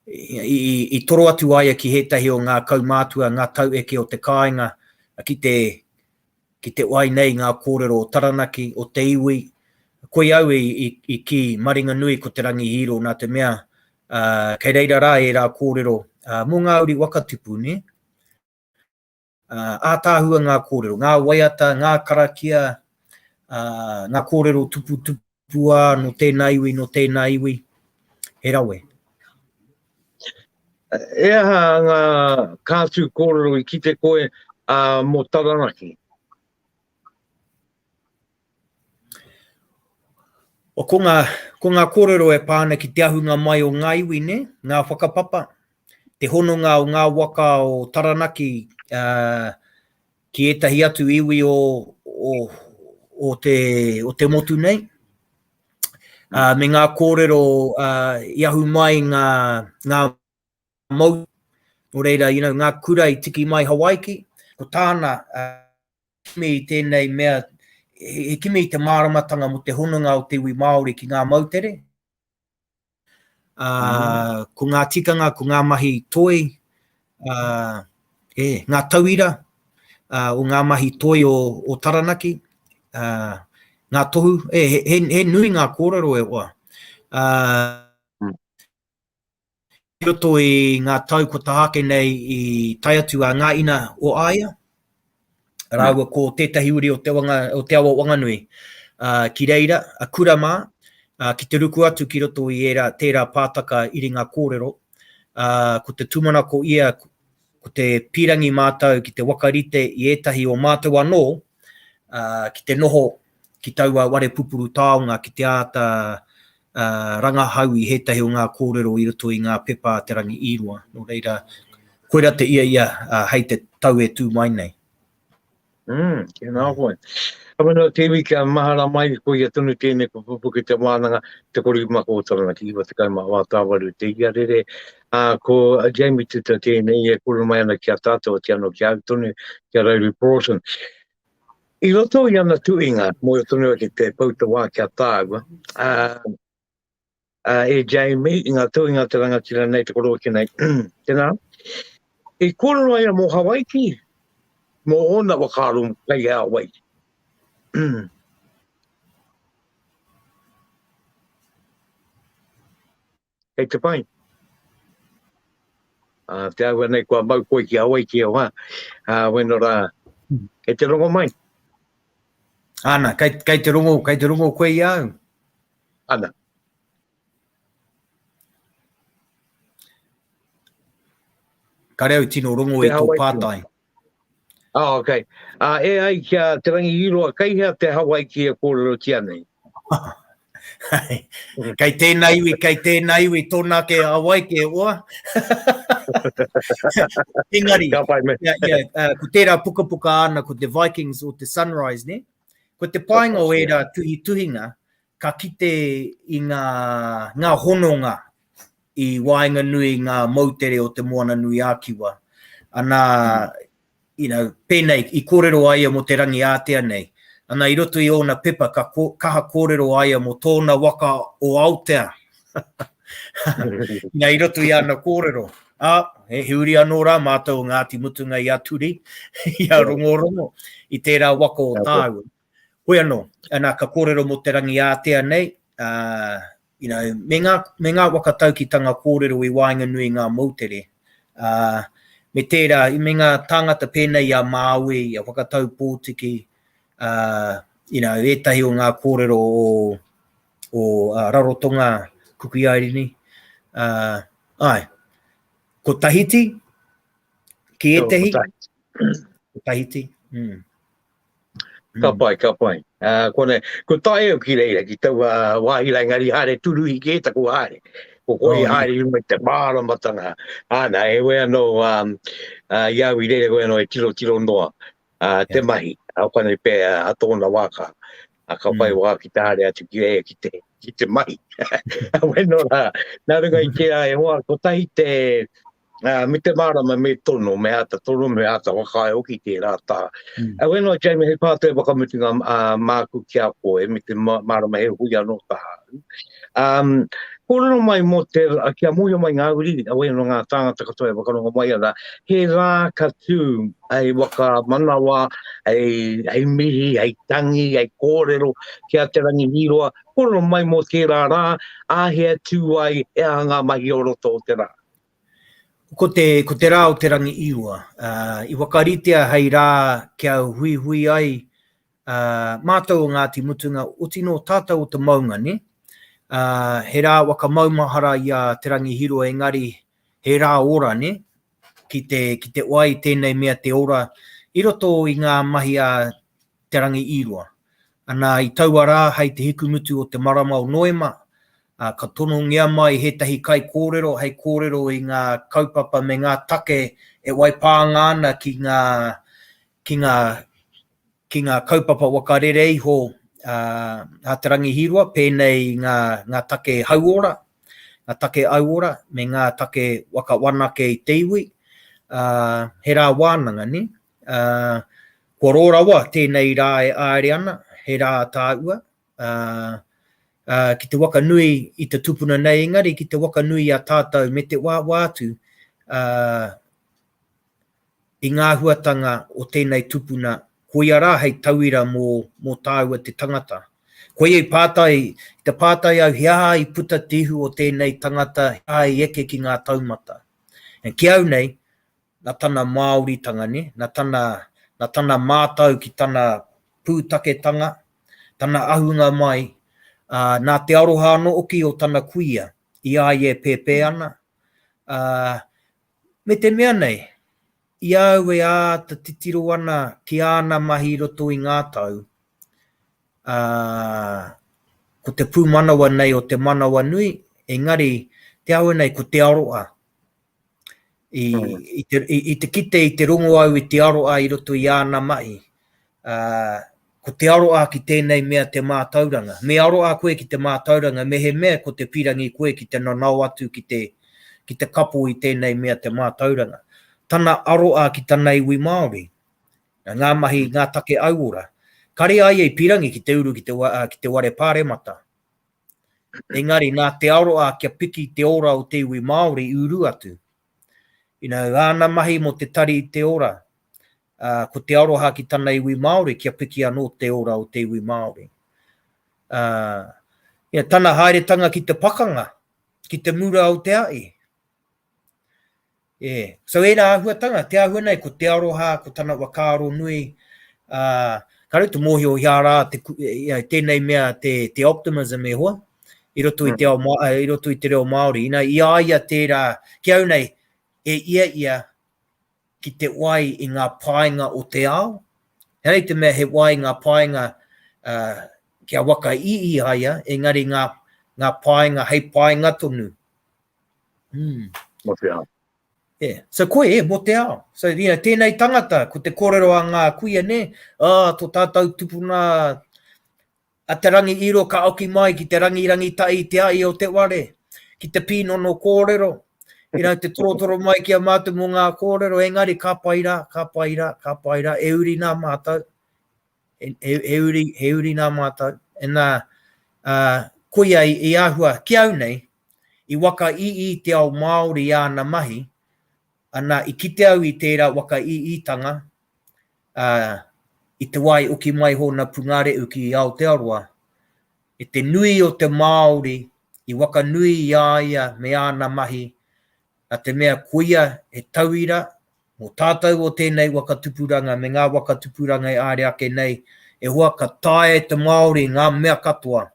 i toro atu a ia ki ētahi o ngā kaumātua, ngā taueke o te kāinga ki te Ki te wai nei ngā kōrero o Taranaki, o te iwi, koia au i kī, Maringanui ko Te Rangi Hīro nā te mea, kei reira rā ērā kōrero mō ngā uri wakatipu, nē? Ātaahua ngā kōrero, ngā waiata, ngā karakia, ngā kōrero tuputupu, Pua no tēnā iwi, no tēnā iwi, he rawe. He aha ngā kātū kōrero i kite koe ā mō Taranaki? O ko ngā, ko ngā kōrero e pā ana ki te ahunga mai o ngā iwi, nē, ngā whakapapa, te hononga o ngā waka o Taranaki, ā, ki ētahi atu iwi o, o, o, te, o te motu nei, uh, me ngā kōrero uh, i ahu mai ngā, ngā mou, o reira, you know, ngā kura i tiki mai Hawaiki, ko tāna uh, kimi i tēnei mea, he kimi i te māramatanga mo te hononga o te iwi Māori ki ngā moutere, Ā, ko ngā tikanga, ko ngā mahi toi, ā, e, ngā tauira, ā, o ngā mahi toi o, o Taranaki, ā, ngā tohu, e, he, he, he nui ngā kōrero e hoa. Ā, I roto i ngā tau kua taha ake nei i tae atu a Ngā Ina o Aia rāua ko tētahi uri o te, wanga, o te awa Wanganui uh, ki reira, a Kura mā, uh, ki te ruku atu ki roto i era, tērā pātaka iringa kōrero. Uh, ko te tūmanako ia ko te pīrangi mātou ki te waka rite i ētahi o mātou anō ki te noho ki taua ware pupuru taonga ki te āta rangahau i hētahi o ngā kōrero i roto i ngā pepa a Te Rangi i Rua. Nō reira, koira te ia ia hei te tau e tū mai nei. Mm, tēnā koe. Ka whenua te iwi kia mahara mai, ko ia tonu tēnei pupupu ki te wānanga, te korima ko Taranaki, iwa te kai mā wā tāwaru te ia rere. A, ko Jamie Tuta tēnei e kuru mai ana ki a tātou, ki anō ki au tonu, ki a Rairi Broughton. I roto i ana tuinga, mō tonu ake te pau te wā ki a tāua, a, uh, e Jamie i ngā tuinga te rangatira nei te korōki nei. Tēnā, i kōrero ai a mō Hawaiki, mō ōna wakaaro kai a wai. Hei te pai. Uh, te aua nei kua mau koe ki Hawaiki e wā, uh, wena rā, e te rongo mai. Ana, kai, kai te rongo, kai te rongo koe i au. Ana. Kare au tino rongo e tō pātai. Ah, oh, okay. Uh, e ai ki a Te Rangi Iroa, kai hea te Hawaii ki e kōrero ki anei? kai tēnā iwi, kai tēnā iwi, tōnā ke Hawaii ke oa. Engari, yeah, yeah, uh, ko tērā pukapuka ana, ko The Vikings o The Sunrise, ne? Ko te painga o ērā tuhituhinga, ka kite i ngā, ngā hononga i waenganui i ngā moutere o Te Moananui-a-Kiwa. Anā, you know, pēnei, i kōrero a ia mō Te Rangiātea nei, anā, i roto i ōna pepa ka kaha kōrero a ia mō tōna waka o Aotea, Nā, i roto i ana kōrero. A, he, he uri anō rā mātou o Ngāti Mutunga i a Turi, i a Rongorongo, i tērā waka o tāua. Hoi anō, anā, ka kōrero mō te rangi ātea nei, uh, you know, me, ngā, me ngā waka taukitanga kōrero i waenga nui ngā moutere. Uh, me tērā, i me ngā tāngata pēnei i a Māui, i a Whakatau Pōtiki, uh, you know, ētahi o ngā kōrero o, o Rarotonga Kukuiairini, ae, ko Tahiti, ki etehi? Ko Tahiti. Ko Tahiti, mm. Ka mm. pai, ka pai. Uh, ko, ne, ko tae au ki reira, ki taua wāhi lai ngari haere turuhi ki e taku haere. Ko koi oh, haere runga te māra matanga. Ana, e we anō, um, uh, i au i reira koe anō e tiro tiro noa uh, te yeah. mahi. Au kane pē uh, a tōna wāka. a ka whai wā ki te haere atu ki reira ki te, ki te mahi. Wai nō rā, nā runga i tērā e hoa, kotahi te, uh, me te mārama me tono, me āta tono, me āta whakaae hoki tērā tā. Mm. A wai nō, Jamie, hei pātai whakamutunga uh, māku ki a koe, me te mārama he hui anō tā. Um, Kōrero mai mō te, ki a mōhio mai ngā uri, a wai nō ngā tāngata katoa e whakarongo mai ana, he rā ka tū hei whakamanawa, hei, hei mihi, hei tangi, hei kōrero ki a Te Rangi Hīroa, kōrero mai mō tērā rā, ā hea tū ai, he aha ngā mahi o roto o te rā. Ko te, ko te rā o Te Rangi Hīroa, uh, i wakaritea hei rā kia huihui ai uh, mātou o Ngāti Mutunga, oti nō tātou o te maunga, ne? Uh, he rā whakamaumahara i a Te Rangi Hīroa, engari He rā ora, nē? Ki te, ki te oa i tēnei mea te ora i roto i ngā mahi a Te Rangi Īroa. Anā, i taua rā hei te hikumutu o te marama o Noema, ā, ka tonongia mai hētahi kaikōrero hei kōrero i ngā kaupapa me ngā take e waipānga ana ki ngā, ki ngā, ki ngā kaupapa waka rere iho a Te Rangi Hīroa, pēnei i ngā take hauora, ngā take auora, me ngā take waka whanake i te iwi, he rā wānanga, nē? Kua rō rawa tēnei rā e āere ana, he rā tāua, ki te waka nui i te tupuna nei, engari ki te waka nui i a tātou me te wāwā atu, i ngā huatanga o tēnei tupuna, koia rā hei tauira mō, mō tāua te tangata. Koia i pātai, i te pātai au he aha i puta te ihu o tēnei tangata, he aha i eke ki ngā taumata. And ki au nei, na tana Māoritanga, nē, na tana, na tana mātau ki tana pūtaketanga, tana ahunga mai, ā, nā te aroha anō hoki o tana kuia i a ia e pēpē ana, ā, Me te mea nei, i a au e āta titiro ana ki āna mahi i roto i ngā tau, ā, ko te pūmanawa nei o te manawanui, engari, te āhua nei ko Te Aroa. I, i, te, i, i te kite, i te rongo au i Te Aroa i roto i āna mahi, ko te aroa ki tēnei mea te mātauranga. Me aroa koe ki te mātauranga mehemea ko te pirangi koe ki te nanao atu ki te, ki te kapo i tēnei mea te mātauranga. Tana aroa ki tana iwi Māori, ngā mahi, ngā take auora. Kare a ia i pirangi ki te uru ki te, ki te ware pāremata. Engari, nā te aroa kia piki te ora o te iwi Māori i uru atu. You know, āna mahi mō te tari i te ora, ā, ko te aroha ki tana iwi Māori kia piki anō te ora o te iwi Māori. Ā, ia tana haeretanga ki te pakanga, ki te mura o te aʻi. E, so ērā āhuatanga, te āhua nei ko te aroha, ko tana whakaaro nui, ā, ka rau te mōhio i ārā, te, ia, tēnei mea te, te optimism e hoa, i roto i te, mm. ao, eh, i roto i te reo Māori. Ina, i aia tērā, ki au nei, e ia ia, ki te wai i ngā paenga o te ao, he aha i te mea he wai ngā paenga kia waka i i a ia, engari ngā paenga hei paenga tonu. Mm. Mō te ao. Yeah. So koe, e, mō te ao. So, you know, tēnei tangata, ko te kōrero a ngā kuia, nē, oh, tō tātou tupuna, A Te Rangi Iro ka oki mai ki te rangi rangitahi i te ahi o te ware, ki te pīnono kōrero, i rau te torotoro mai ki a mātou mō ngā kōrero, engari ka pai rā, ka pai rā, ka pai rā, he uri nā mātou, he, he, he, uri, he uri nā mātou. E nā, uh, koia i, i ahua ki au nei, i waka i i te ao Māori i āna mahi, Ana i kite au i tērā waka iiitanga, ā, i te wā i oki mai hōna pungarehu ki Aotearoa, e te nui o te Māori i wakanui i a ia me āna mahi, nā te mea koia he tauira mō tātou o tēnei waka tupuranga me ngā waka tupuranga e āre ake nei, e hoa ka taea e te Māori ngā mea katoa,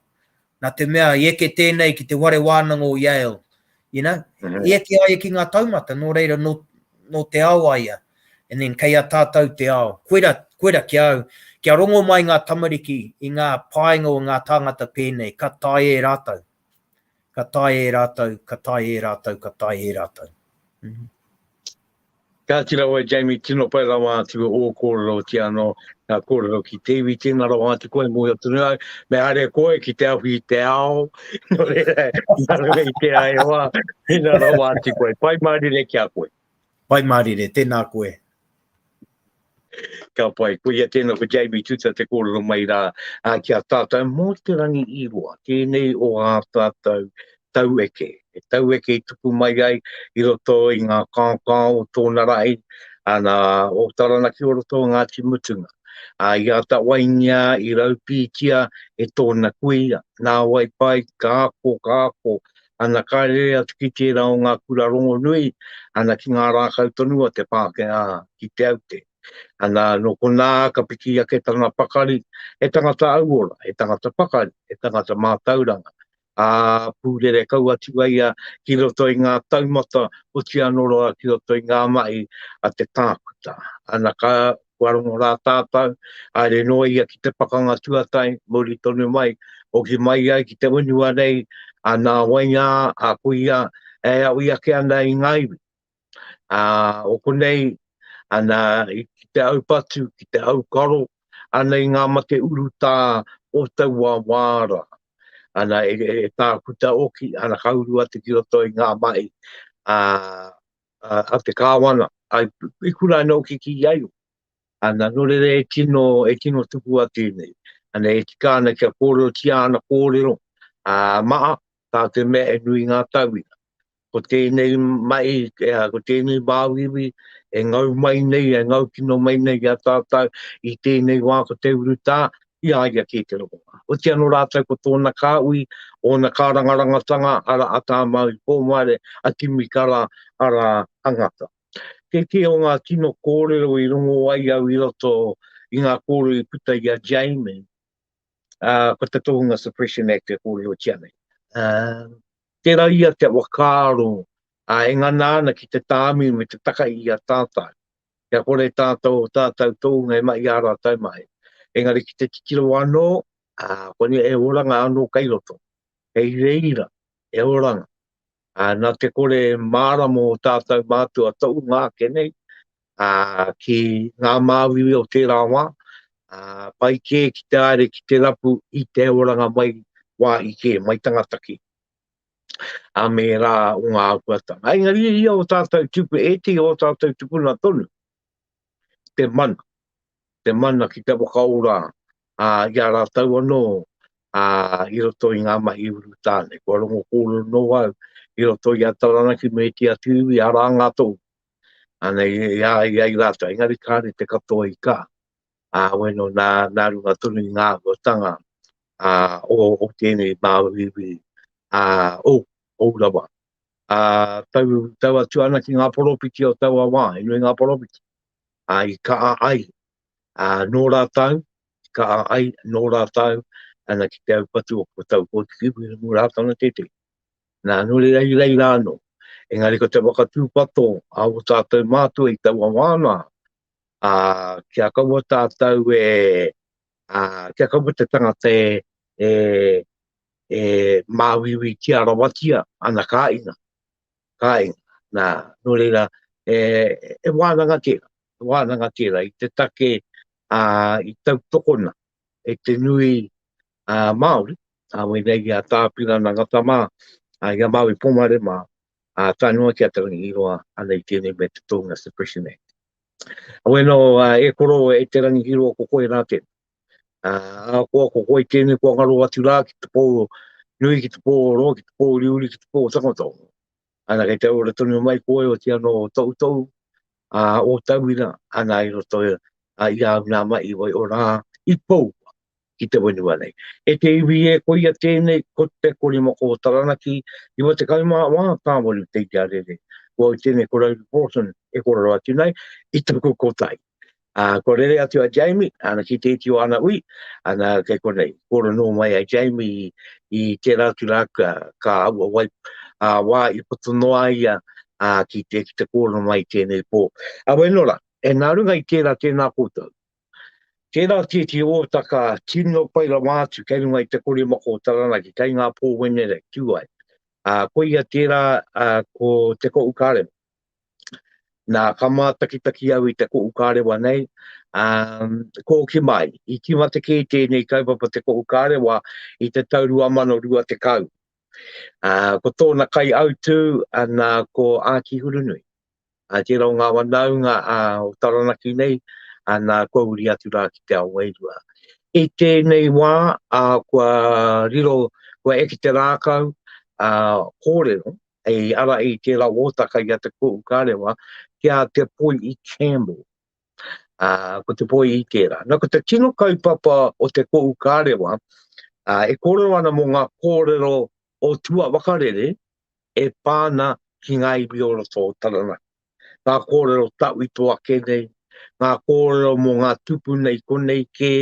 nā te mea i eke tēnei ki te whare wānanga o Yale, you know, i eke ai ki ngā taumata, nō reira, nō, nō te ao a ia, and then kei a tātou te ao. Koira, koira ki a au, kia rongo mai ngā tamariki i ngā painga o ngā tāngata pēnei, ka tae e rātou, ka tae e rātou, ka tae e rātou, ka tae e rātou. Kāti rawa e Jamie tino pai rawa atu ō kōrero ki anō ngā kōrero ki te iwi tēnā rawa atu koe mōhio atu nei ai me haere koe ki te awhi i te ao nō reira nā runga i tērā e hoa tēnā rawa atu koe pai mārire ki a koe. Pai mārire, tēnā koe. Ka pai, ko ia tēnā ko Jamie Tuta te kōrero mai rā ki a tātou mō te rangi i roa, tēnei o ā tātou taueke, he taueke i tupu mai ai i roto i ngā kaokao o tōna rahi, ana o Taranaki o roto o Ngāti Mutunga. Ā, i āta waingia, i raupītia e tōna kuia, nāwai pai, ka ako, ka ako, Ana ka rere atu ki tērā o ngā kura rongonui, ana ki ngā rākau tonu a te Pākehā ki Te Aute. Ana nō konā ka piki ake tana pakari, he tangata auora, he tangata pakari, he tangata mātauranga, ā, pūrere kau atu ai ia ki roto i ngā taumata, oti anō roa ki roto i ngā mahi a te tākuta. Ana ka kua rongo rā tātou, haere noa ia ki te pakanga tuatai, muri tonu mai, hoki mai ai ki te whenua nei, a nā wainga a kuia e awi ake ana i ngā iwi. A, o konei, ana i ki te au patu, ki te au karo, ana i ngā mate urutā o taua wā rā. Ana e, e, e tākuta oki, ana kauru atu ki roto i ngā mahi, a, a, a te kāwana, a, i kura anō ki ki ai o. Ana, nō reira e tino, e tino tupu a tēnei. Ana, e tika ana kia kōrero ki āna kōrero, a, maa, tā te mea e nui ngā tauira. Ko tēnei mai, e, ko tēnei māuiwi, e ngau mai nei, e ngau kino mai nei a tātou, i tēnei wā ko te urutā, i a ia kē te rongoā. Oti anō rātou ko tōna kāhui, ōna kārangarangatanga, arā, a Tāmāui Pōmaere, a Kimi Kara, arā, a Ngata. Kei te o ngā tino kōrero i rongo ai au i roto i ngā kōrero i puta i a Jamie, ā, ko te tohunga Suppression Act e kōrerotia nei. Ā, tērā ia te whakaaro, ā, e ngana ana ki te tāmi me te taka i a tātou. kia kore tātou o tātou tōunga e mahi i a rātou mahi. Engari ki te titiro anō, ā, koinei he oranga anō kei roto, hei reira, he oranga. Ā, nā te kore mārama o tātou mātua tōunga ake nei, ā, ki ngā māuiui o tērā wā, ā, pai kē ki te haere ki te rapu i te oranga mai wāhi kē, mai tangata kē. ā mērā o ngā āhuatanga. Engari i ia o tātou tuku, ētehi o tātou tukuna tonu, te mana, te mana ki te whakaora ā, i a rātou anō ā, i roto i ngā mahi urutāne. Kua rongo kōrero nō au i roto i a Taranaki me te atu iwi, arā ngā tō, anei, i a ia i rātou. Engari kāre te katoa i kā. ā, weno nā, nā runga tonu i ngā āhuatanga, ā, o, o tēnei māuiui, ā, o, o Urawa. Ā, tau, tau atu ana ki ngā poropiti o taua wā, he nui ngā poropiti, ā, i kaha ai, ā, nō rātau, i kaha ai, nō rātau, ana ki te aupatu o ko tau kōtiki, wera mō rātau na tētei. Nā, nō reira i reira anō. Engari ko te whakatūpato a o tātou mātua i taua wā nā, a kia kaua tātou e a kia kaua te tangata e e, e māuiui tia rawatia ana ka inga ka inga na no reira e e wānanga te wānanga te i te take a i tau tokona e te nui a Māori a wēnei i a Tāpirana Ngata mā a i a Māui Pomare mā ā, tae noa ki a Te Rangihiroa, ana i tēnei mea te Tōna Suppression Act. Awe nō, ā, e koro, e Te Rangihiroa, ko koe rā tēnā. Ā, ahakoa ko koe tēnei kua ngaro atu rā ki te pō nui, ki te pō oro, ki te pō uriuri, ki te pō tangata oro. Ana kei te ora tonu mai koe, otiano o Toutou, a o tauira ana i roto a i au nā mahi wai o rā i pou ki te whenua nei. E te iwi e koia tēnei ko te kore moko o Taranaki i wa te kau mā wā tāwaru te i a rere. Ko au tēnei ko Rose Broughton e kororo atu nei i taku kotai. A ko rere atu a Jamie, ana ki te iti o ana ui, ana kei konei. Koro nō mai a Jamie i tērā atu rā ka, ka aua wai a wā i poto noa ia ā, ki te, ki te kōrero mai i tēnei pō. Awe nō rā, e nā runga i tērā, tēnā koutou. Tērā tēti ōtaka tino pai rawa atu kei runga i te kori moko o Taranaki, kei ngā pō Wenerei, tū ai. Ā, koia tērā, ā, ko te Koʻu Kārewa. Nā, ka mātakitaki au i te Koʻu Kārewa nei, ā, ko ki mai, i tīmata kē tēnei kaupapa te Koʻu Kārewa i te tau 2020. Ko tōna kaiautū nā ko Ākihurunui, tērā o ngā wanaunga o Taranaki nei, nā kua uri atu rā ki te ao wairua. I tēnei wā kua riro, kua eke te rākau kōrero hei ara i tērā ōtaka i a Te Koʻu Karewa ki a Te Poiʻi Campbell. ā, ko te poi i tērā. Nā, ko te tino kaupapa o te Kohu Kārewa, ā, e kōrero ana mō ngā kōrero o tua wakarere e pā ana ki ngā iwi o roto o Taranaki. Ngā kōrero tauito ake nei, ngā kōrero mō ngā tupuna i konei kē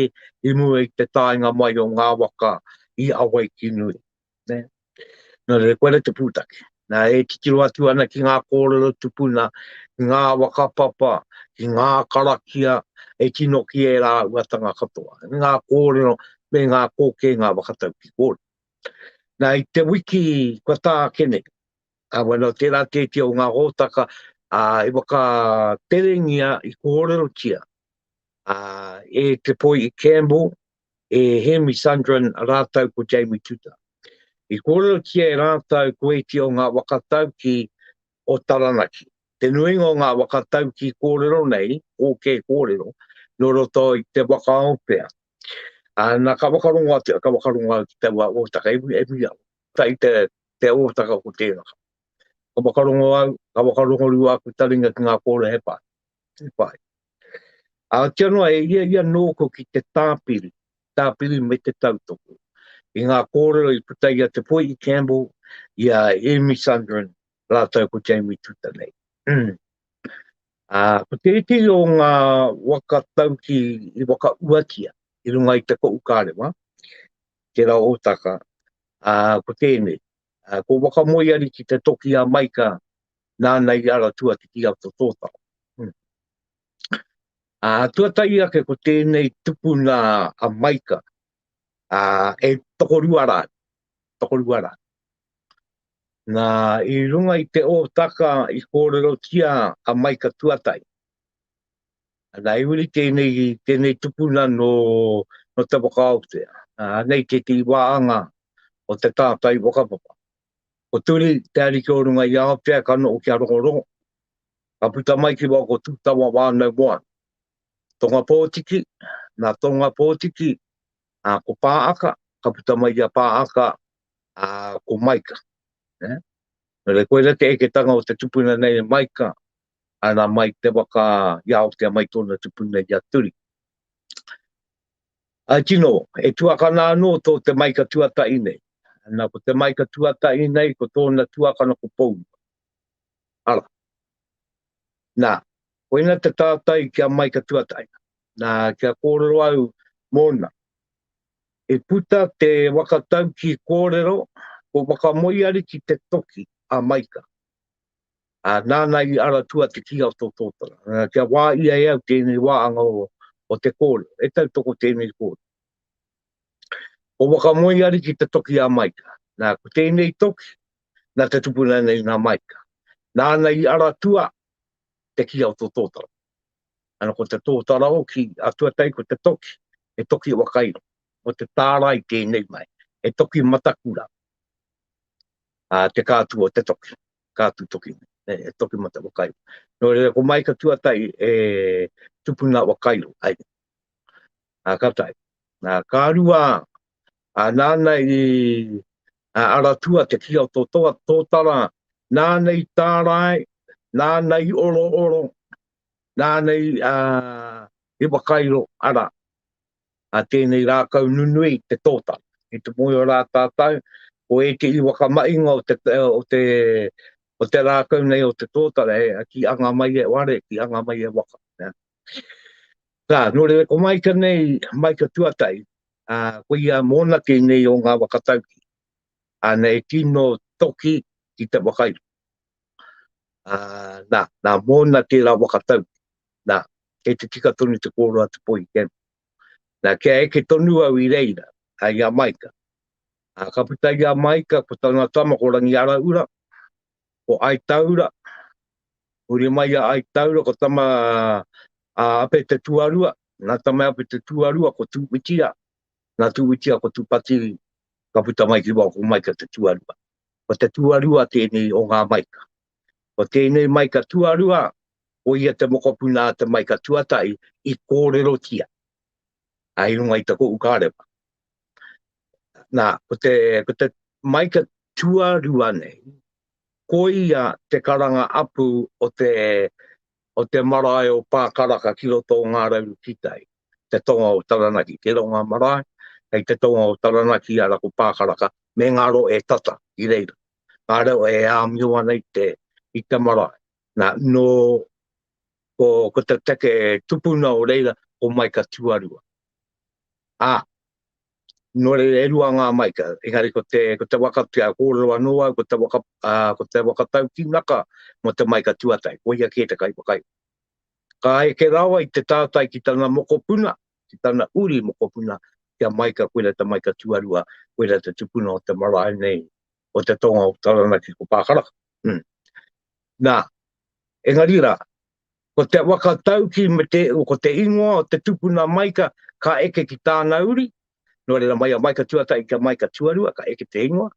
i mua i te taenga mai o ngā waka i Awaiki-nui. Nē. Nō reira, koira te pūtake. Nā, e titiro atu ana ki ngā kōrero tupuna, ki ngā whakapapa, ki ngā karakia e tino ki e rāuatanga katoa. Ngā kōrero me ngā kōkēnga whakatau ki kōrero. Nā, i te wiki kua tākene, a wano, tērā tēti o ngā hōtaka a, i whakaterengia, i kōrerotia a, e te poi i Campbell, e Hemi Sundrin rātou ko Jamie Tuta. I kōrerotia e rātou ko ēti o ngā waka tauki o Taranaki. Te nuinga o ngā waka tauki kōrero nei, ōkē kōrero, nō roto i te waka o Pea. Ā, nā ka whakarongo atu, ka whakarongo au ki taua ōtaka, e mui au, tā i te, te ōtaka ko tēraka. Ka whakarongo au, ka whakarongo rua aku taringa ki ngā kōrehe pā. te whai. A tia noa e ia ia nōku ki te tāpiri, tāpiri me te tautoko. I ngā kōrero i puta ia te poi i Campbell, i a Amy Sundrin, rātou ko Jamie Tuta nei. Mm. A, ko te iti o ngā waka tauki i waka uatia, i runga i te ko ukarewa, te rao o taka, a, ko tēnei. A, ko waka moiari ki te toki a Maika, nāna i ara tuatiti a to tōtara. Hmm. A tuatai ake ko tēnei tupuna a Maika, a, e tokorua rā, tokorua rā. Nā, i runga i te ōtaka i kōrero tia a Maika tuatai. Nā, i uri tēnei, tēnei tupuna no, no te wakaotea. Nā, nei te te wāanga o te tātai whakapapa. Ko Turi, te ariki o runga i Aotea, ka noho ki a Rongorongo, ka puta mai ki waho ko Tūtawa wānau moana. Tongapōtiki, nā Tongapōtiki, ā, ko Pāaka, ka puta mai ki a Pāaka, ā, ko Maika. Nē? Nō reira, koirā te eketanga o te tupuna nei e Maika, ana mai te waka i Aotea, mai tōna tupuna i a Turi. Āe tino, e tuakana anō tō te maika tuatahi nei. Nā, ko te maika tuatahi nei, ko tōna tuakana ko Pourua. Ara. Nā, koina te tātai ki a maika tuatahi. Nā, kia kōrero au mōna. E puta te wakatauki kōrero, ko Wakamoeariki te toki a maika. ā, nāna i ara atu a Te Kīnga o Tōtōtara. Ā, kia wā ia e au tēnei wāanga o, o te kōrero, e tautoko tēnei kōrero. Ko Wakamoeariki te toki a Maika. Nā, ko tēnei toki, nā te tupuna nei nā Maika. Nāna i ara atu a Te Kīnga o Tōtōtara. Ana ko te tōtara hoki, a tuatai ko te toki, he toki wakairo. Ko te tārai tēnei mai, he toki matakura, ā, te kātua o te toki. ka atu toki nei, e toki ma te whakairo. No reira, ko mai ka tuatai e tupuna wa kairo, ai. A ka tai. Na ka rua, a nana i a aratua te ki o to toa tōtara, nana i tārai, nana i oro oro, nana i, a, i wakairo, ara, a tēnei rākau nunui i te tōtara. I te moe o rā tātou, ko ētehi whakamahinga o te, o te, o te rākau nei o te tōtara, e, ki anga mai e ware, ki anga mai e waka. Yeah. Tā, nō rewe, ko Maika nei, Maika Tuatai, a, ko ia mōna kei nei o ngā wakatauki. Ana e tino toki ki te wakairo. A, nā, nā mōna tērā wakatauki. Nā, kei te tika tonu te kōrua te pohi kēmu. Nā, kia eke tonu au i reira, a ia Maika. Ā, ka puta i a Maika ko tana tama ko Rangiaraura, ko Aitaura, huri mai i a Aitaura ko tama a Ape te Tuarua, nā tama Ape te Tuarua ko Tūwitira, nā Tūwitira ko Tūpati, ka puta mai ki waho ko Maika te Tuarua. Ko te Tuarua tēnei o ngā Maika. Ko tēnei maika tuarua, ko ia te mokopuna a te maika tuatahi i kōrerotia a i runga i te kohu kārepa. Nā, ko te, ko te maika tuarua nei, ko ia te karanga apu o te, o te marae o Pākaraka ki roto o Ngā Rauru Kitai, te tonga o Taranaki, te ronga marae, hei te tonga o Taranaki, ara ko Pākaraka, me ngaro e tata i reira. ka reo e āmio ana i te, i te marae. Nā, nō, ko, ko te take e tupuna o reira, ko Maika Tuarua. Ā, nō reira e rua ngā Maika, engari ko te, ko te waka, kia kōrero anō au, ko te waka, ā, ko te waka taukinaka mō te Maika Tuatai, ko ia kē te kai whakairo. Ka eke rawa i te tātai ki tana mokopuna, ki tana uri mokopuna, kia Maika, koira te Maika Tuarua, koira te tupuna o te marae nei, o te tonga o Taranaki ko Pākaraka. Hmm. Nā, engari rā, ko te waka tauki me te, ko te ingoa o te tupuna maika ka eke ki tāna uri, no reira mai a maika tuatai ki a maika tuarua, ka eke te ingoa,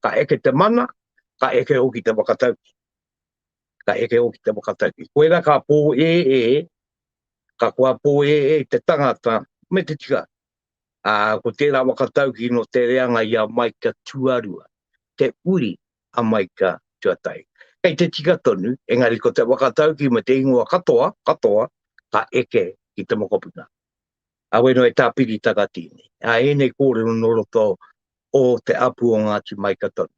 ka eke te mana, ka eke hoki te waka tauki. Ka eke hoki te waka tauki. Koera ka pō e e, ka kua pō e e te tangata, me te tika, Ā, ko tērā waka tauki nō te reanga i a Maika tuarua, te uri a Maika tuatahi. Kei te tika tonu, engari ko te waka tauki me te ingoa katoa, katoa, ka eke ki te mokopuna. Ā, wēnō e tāpiri takati nei. Ā, ēnei kōrero nō roto o te apu o Ngāti Maika tonu.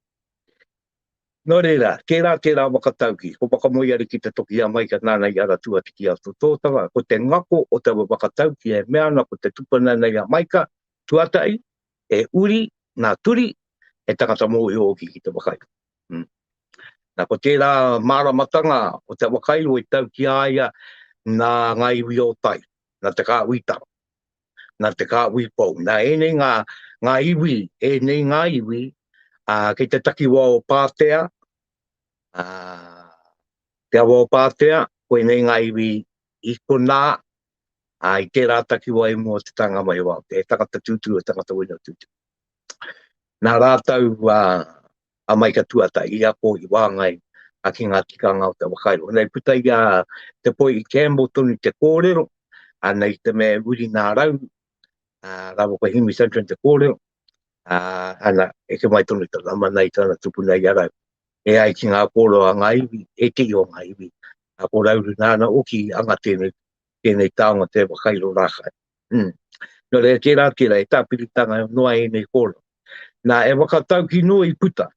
Nō reira, kē rā tērā whakatauki, ko Whakamoeari ki te toki i a Maika nāna i ara tuati ki a Tototanga, ko te ngako o taua whakatauki e mea ana ko te tupuna nei a Maika, tuatahi, e uri, nā Turi, he tangata mōhio hoki ki te whakairo. Hm. Nā, ko tērā māramatanga o te whakairo i tau ki a ia nā ngā iwi o tai, nā Te Kāhuitaro. nā te kāhui pou. Nā ēnei ngā, ngā iwi, ēnei ngā iwi, ā, kei te takiwā o Pātea, ā, te awa o Pātea, koinei ngā iwi i konā, ā, i tērā takiwā i mua o te tānga mai o Aotea, he tangata tūturu, he tangata wina tūturu. Nā rātou a Maika Tuatahi i ako i wāngai ki ngā tikanga o te whakairo. Nei puta i a Te Poi i Campbell tonu te kōrero, ana i te mea e Wiri nā Rau rāua ko Hemi Santrin te kōrero, ana eke mai tonu te Lamana i tana tupuna i a Rau. E ai ki ngā kōrero a ngā iwi, he tihi o ngā iwi, ko Rauru nāna hoki i anga tēnei tēnei taonga te whakairo rākai. Mm. Nō reira, tērā, tērā, e tāpiritanga noa ēnei kōrero. Nā, e whakatauki noa i puta.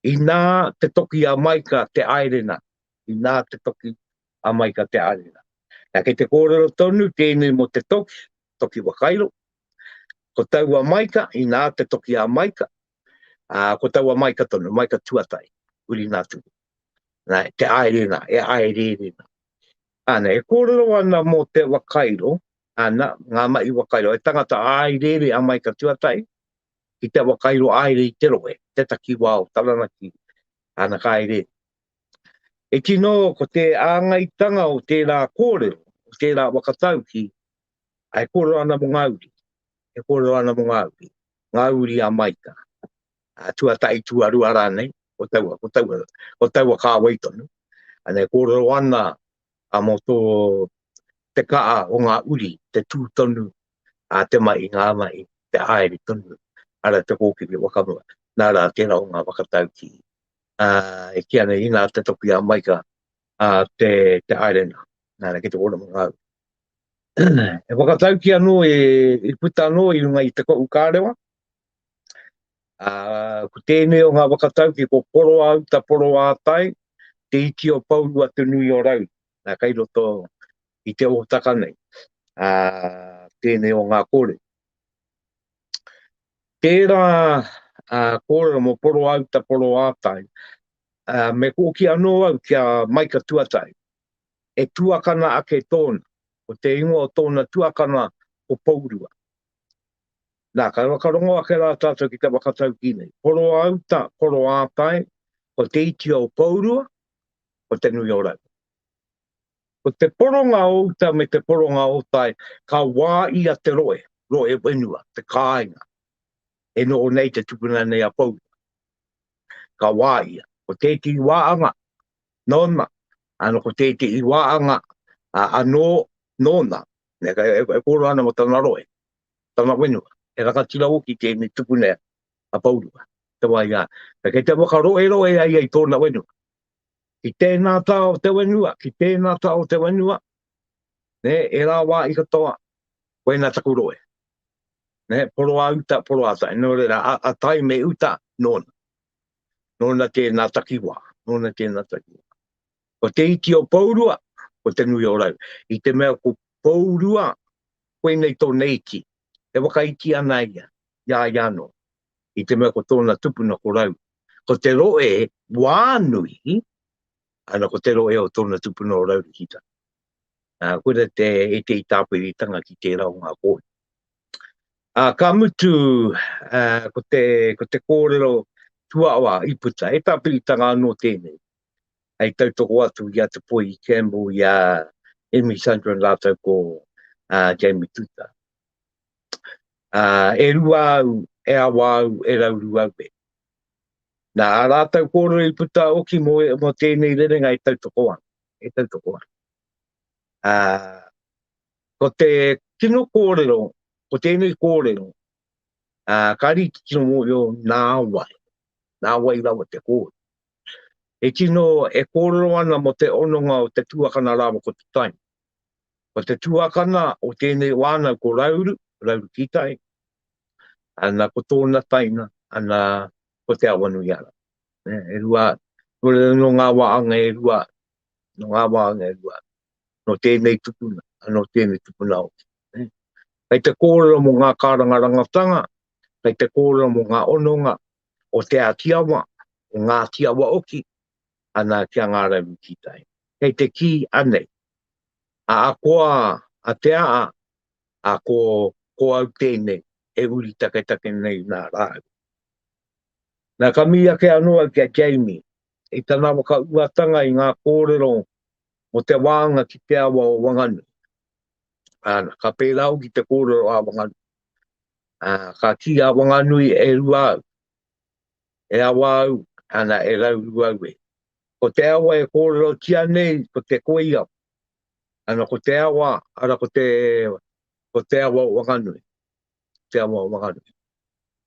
Inā te toki a Maika te aerena, inā te toki a Maika te aerena. Nā, kei te kōrero tonu tēnei mō te toki, toki wakairo, ko taua maika, inā te toki a maika, a, ko taua maika tonu, maika tuatai, uri nā tuku. Nā, te aerena, e aerena. Ana, e kōrero ana mō te wakairo, ana, ngā mahi wakairo, he tangata āereere a Maika Tuatahi ki te wakairo āere i te rohe, te takiwā o Taranaki, ana, ka haere. E tino, ko te āngaitanga o tērā kōrero, o tērā whakatauki, a e kōrero ana mō ngā uri, e kōrero ana mō ngā uri, ngā uri a Maika. uh, tuatahi, tuarua rānei, ko taua, ko taua, ko taua kāwei tonu. Anei, kōrero ana a mō tō te kaa o ngā uri, te tū tonu, a te mai i ngā mai, te aere tonu, ara te kōkiri wakamua, nā rā tērā o ngā wakatau ki. Uh, e ki anei, ina te toki a Maika, a uh, te, te aere nā, nā rā ki te kōrero ngā uri. e whakatau ki anō, e, e puta anō i runga i te kou kārewa, Ko tēnei o ngā whakatauki, ko Poroa uta, Poroa atai, te iti o Pourua te nui o Rauru. Nā, kei roto i te ōtaka nei, tēnei o ngā kōrero. Tērā kōrero mō Poroa uta, Poroa atai, me kōki anō au ki a Maika Tuatahi, he tuakana ake tōna, ko te ingoa o tōna tuakana ko Pourua. Nā, kai whakarongo ake rā tātou ki te whakataukī nei. Poroauta, Poroātae, ko te iti o Pourua, ko Te Nui o Rau. Ko te poronga o uta me te poronga o tae, ka wā ia te roe, roe whenua, te kāinga. E noho nei te tupuna nei a Pourua. Ka wā ia. Ko tētehi wāanga, nōna, ano ko tētehi wāanga, anō, nōna. E kōrero ana mō tana roe. Tana whenua, he rangatira hoki tēnei tupuna a Pourua, te wā i a ia. Kei te whakaroeroe a ia i tōna whenua. Ki tēnā tā o te whenua, ki tēnā tā o te whenua, ne, e rā wā i katoa, koina taku roe. Ne, poro a uta, poro a tai. Nō reira, a, a tai me uta, nōna. Nōna tēnā takiwā, nōna tēnā takiwā. Ko te iti o Pourua, ko Te Nui o Rau. I te mea ko Pourua, koinei tōna iti, e whakaiti ana ia, i a ia anō. I te mea ko tōna tupuna ko Rau. Ko te rohe wā nui, ana ko te rohe o tōna tupuna o Raurikita. Uh, kura te etei tāpiritanga ki tērā o ngā kōhi. Uh, ka mutu, uh, ko, te, ko te kōrero tuawa i puta, e tāpiritanga anō tēnei. hei tautoko atu i a Te Poi i Campbell, i a Emmy Sandrin rātou ko a Jamie Tuta. Uh, e rua au, e awa au, e rauru au e. Nā, a rātou kōrero i puta oki mō, mō tēnei rerenga e tautoko ana, e tautoko ana. Uh, ko te kino kōrero, ko tēnei kōrero, uh, ka rīti kino mō yo nā wai, nā wai rawa te kōrero. I tino e kōrero ana mō te hononga o te tuakana rāua ko te taima. Ko te tuakana o tēnei wānau ko Rauru, Rauru Kītai, ana ko tōna taina, ana ko Te Awanuiara. E rua, no ngā wāanga e rua, no ngā wāanga e rua, no tēnei tupuna, no tēnei tupuna hoki. Kei te kōrero mō ngā kārangarangatanga, kei te kōrero mō ngā hononga, o Te Āti Awa, o Ngāti Awa Oki, ana ki a Ngā Rauru Kītai. Kei te kī anei, a akoa a Te Aa, a ko, ko au tēnei, e uri taketake nei nā rāua. Nā, ka mihi ake anō au ki a Jamie, i tana whakauatanga i ngā kōrero mō te wānga ki te awa o Wanganui. Ana, ka pērā au ki te kōrero a Wanganui. Ā, ka kī a Wanganui, E rua au, e awa au, ana, e rauru au e. Ko te awa e kōrerotia nei, ko te koiawa. Ana, ko te awa, ara, ko te, ko te awa o Wanganui. Ko te awa o Wanganui.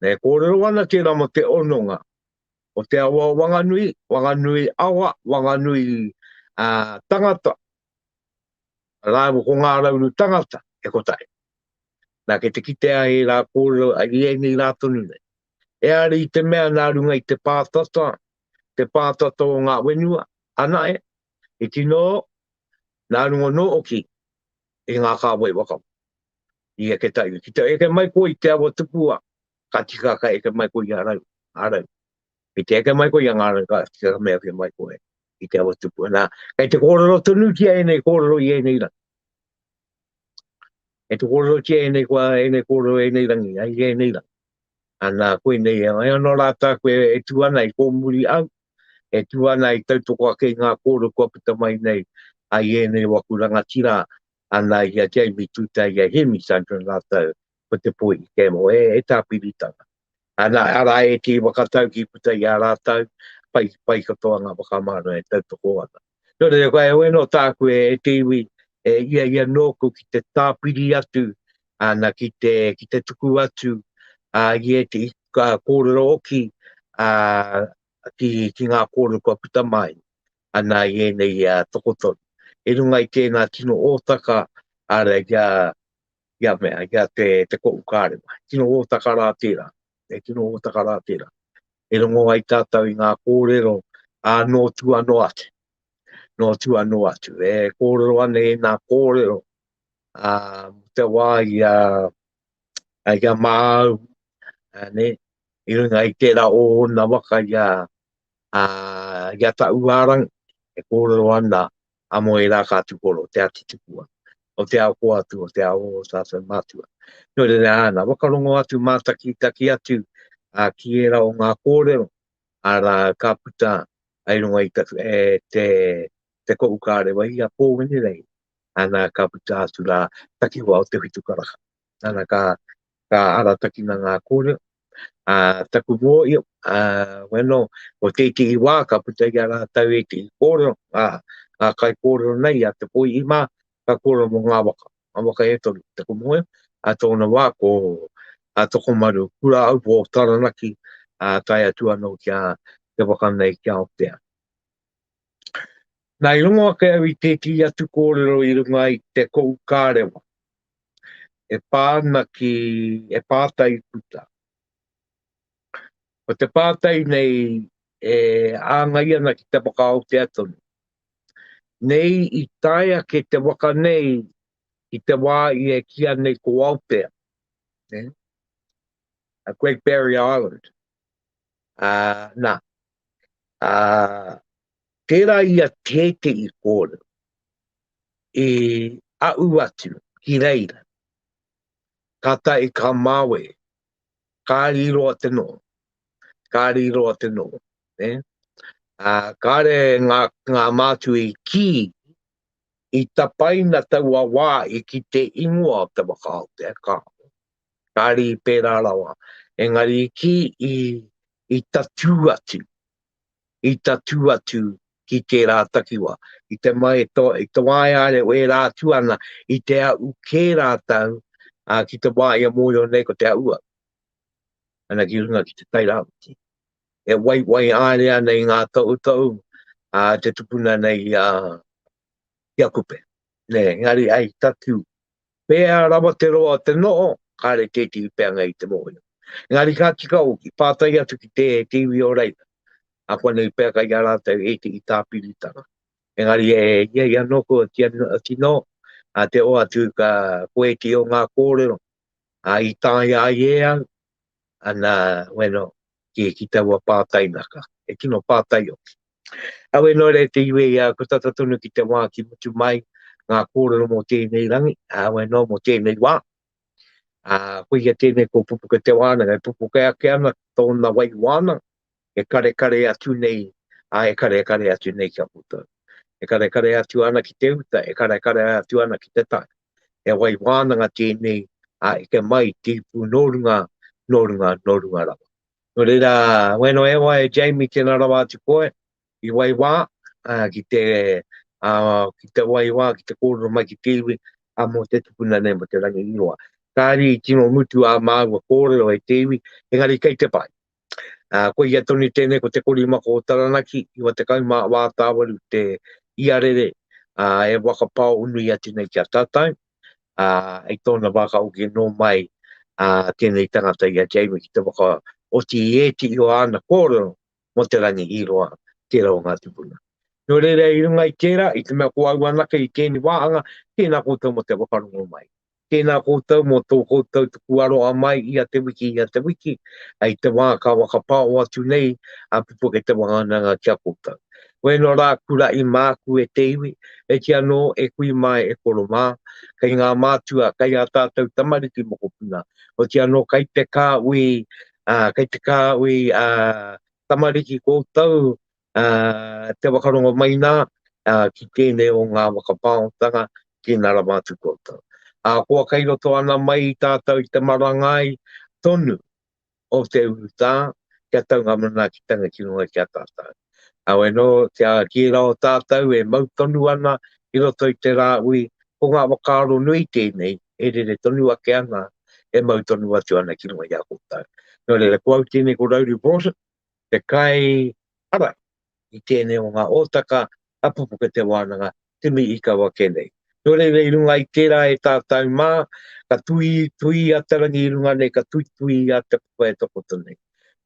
Na, e kōrero ana tērā mō te hononga o te awa o Wanganui, Wanganui awa, Wanganui ā, tangata, Rāua ko Ngā Rauru Tangata e kotahi. Nā, kei te kitea ai rā kōrero a ia nei rā tonu nei. Eari i te mea nā runga i te pātata, te pātata o ngā wenua, ana e, i tino, nā runga nō oki i ngā kāwai waka. I eke taiwi, ki te eke mai koe i te awa tupua, ka tika ka eke mai koe i a rau, a rau. Kei te eke mai koe i a ngā reka, ki te mea ke mai koe i te awa tupu. Nā, kei te kōrero tonu ki a enei kōrero i enei rangi. Kei te kōrero ki a enei kua, enei kōrero enei rangi, ai i enei rangi. Ana, koe nei, ai anō rā tā koe e tū ana i kōmuri au, e tū ana i tautoko ake i ngā kōrero kua puta mai nei, ai enei waku rangatira, ana i a Jamie Tuta, i a Hemi Sandrin rātou, ko te po i Kemo, e, e tāpiritanga. Ana, ara e te whakatau ki puta i a rātau, pai, pai katoa ngā whakamāra e tautoko ana. Nō reira, koe, oe no tāku e, e te iwi, e, ia, ia nōku ki te tāpiri atu, ana, ki te, ki te tuku atu, a, i e te ka, kōrero oki, a, ki, ki ngā kōrero kua puta mai, ana, i ēnei a, tokotoru. E runga i tēnā tino ōtaka, ara, kia, i a mea, i a te, te ko ukārenga. He tino ōtaka rā tērā, he tino ōtaka rā tērā. E rongo ai tātou i ngā kōrero, ā, nō tu anō atu, nō tu anō atu. E kōrero ana i nā kōrero, ā, te wā i a, i a māu, ā, ne, i runga i tērā o ōna waka i a, ā, i a ta uārang, e kōrero ana, a mo era ka tu koro te ati tu kua o te ao koa tu o te ao o sa sa matua no le ana wa kalongo atu mata ki ta ki atu a ki era o nga kore ara ka puta ai no ai ta e te te ko ukare wa ia po ni rei ana ka puta tu la ta ki wa o te fitu kara Nana ka, ka aratakina ngā kōrero. Ā, taku mōhio, ā, weno, ko tētehi wā ka puta i a rātou ētehi kōrero, ā, ā, kai kōrero nei a Te Poihi mā, ka kōrero mō ngā waka, ngā waka e toru, taku mōhio, ā, tōna wā ko a Tokomaru, Kuraaupo o Taranaki, ā, tae atu anō ki a te waka nei ki Aotea. Nā, i rongo ake au i tētehi atu kōrero i runga i te Koukārewa, e pā ana ki e pātai puta. Ko te pātai nei e āngai ana ki te whakaotea tonu. Nei i tae ake te waka nei i te wā i e kīa nei ko Aotea, eh? a Great Barrier Island. Uh, nā, uh, Tērā i a Tēte i kōrero, i aʻu atu ki reira, tata i ka mawe, kāri roa te noho, kāri roa te noho, ne? A, kāre ngā, ngā mātua i kī, i tapaina taua wā i ki te ingoa o te waka o Te Akāo, kāri pērā rawa, engari i kī, i, i tatū atu, i tatū atu ki tērā takiwā. I te mai i te wā e aere o ērā atu ana i te aʻu kē rātou, ā, ki te wā ia mōhio nei ko te aʻu au. Ana ki runga ki te Tairawhiti. E waiwai aere ana i ngā tohutohu a te tupuna nei i a Kupe. Nē, engari ai tatū Pēhea rawa te roa o te noho, kāre tētehi peanga i te mōhio. Engari ka tika hoki, pātai atu ki te iwi o reira, ākuanei pea kai a rātou ētehi tāpiritanga. Engari e ia ia nōku a tino, te oatu ka koe ki o ngā kōrero i taea ai e au, ana weno ki ki taua pātai naka e tino pātai hoki awe no re te iwe ia ko tata tonu ki te wā ki mutu mai ngā kōrero mō tēnei rangi awe no mō tēnei wā a ko ia tēnei ko pupuka te wānanga e pupuka ake ana tōna wai wānanga e karekare atu nei, ā, e karekare atu nei ki a koutou. E karekare atu ana ki te uta, e karekare atu ana ki te tae. He wai wānanga tēnei a eke mai te ipu nō runga, nō runga, nō runga rawa. Nō reira, wēnō e wā e Jamie tēnā rawa atu koe i wai wā, ā, ki te, ā, ki te wai wā, ki te kōrero mai ki te iwi, ā, mō te tupuna nei, mō te rangi i roa. Kāre i tino mutu ā māua kōrero e te iwi, engari kei te pai. Ko ia tonu tēnei ko Te Korimako o Taranaki, 94 tāwaru te iarere e whakapao nui atu nei ki a tātou. I tōna wā ka hoki anō mai tēnei tangata i a Jamie ki te whakaoti i ētehi o āna kōrero mō te rangi hīroa, tērā o ngā tupuna. Nō reira i runga i tērā, i te mea ko au anake i tēnei wāhanga, tēnā koutou mō te whakarongo mai. Tēnā koutou mō tō koutou tuku aroha mai ia te wiki, ia te wiki, i te wā ka whakapao atu nei a Pupuke Te Wānanga ki a koutou. Koe no rā kuraʻi māku e te iwi, e ki anō e kui māe e koro mā, kei ngā mātua, kei ā tātou tamariki mokopuna, hoti anō kei te kāuī, kei te kāuī tamariki koutou Ā, te whakarongo mai nā, ā, ki tēnei o ngā waka pāongtanga, ki nā rawa atu koutou. Ā, kua kai roto ana mai tātou i te marangai tonu o te urutā, kia tau ngā manaakitanga ki runga ki a tātou. Heoi anō, kia kī rawa tātou e mau tonu ana i roto i te Rāhui, ko ngā whakaaro nui tēnei e rere tonu ake ana, e mau tonu atu ana ki runga i a koutou. Nō reira, ko au tēnei ko Rowley Broughton, te kai ara i tēnei o ngā hōtaka a Pupuke Te Wānanga, Timi Ikawa kē nei. Nō reira i runga i tērā e tātau mā, ka tuitui a te rangi i runga nei, ka tuitui a te papa e takoto nei.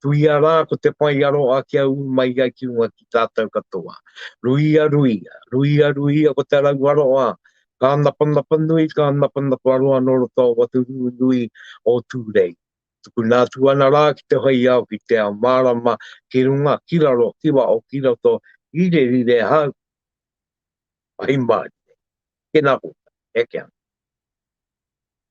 Tuia rā ko te whai aroha kia ū mai ai ki runga ki tātau katoa. Ruia, ruia, ruia, ruia ko te rau aroha, ka napanapa nui, ka napanapa roa nō roto o watu nui o Tūrei. Tukuna atu ana rā ki te whai ao ki te ao mārama, ki runga, ki raro, ki waho, ki roto, rire, rire, hau. Ahi mārie. Tēnā koutou. Eke ana.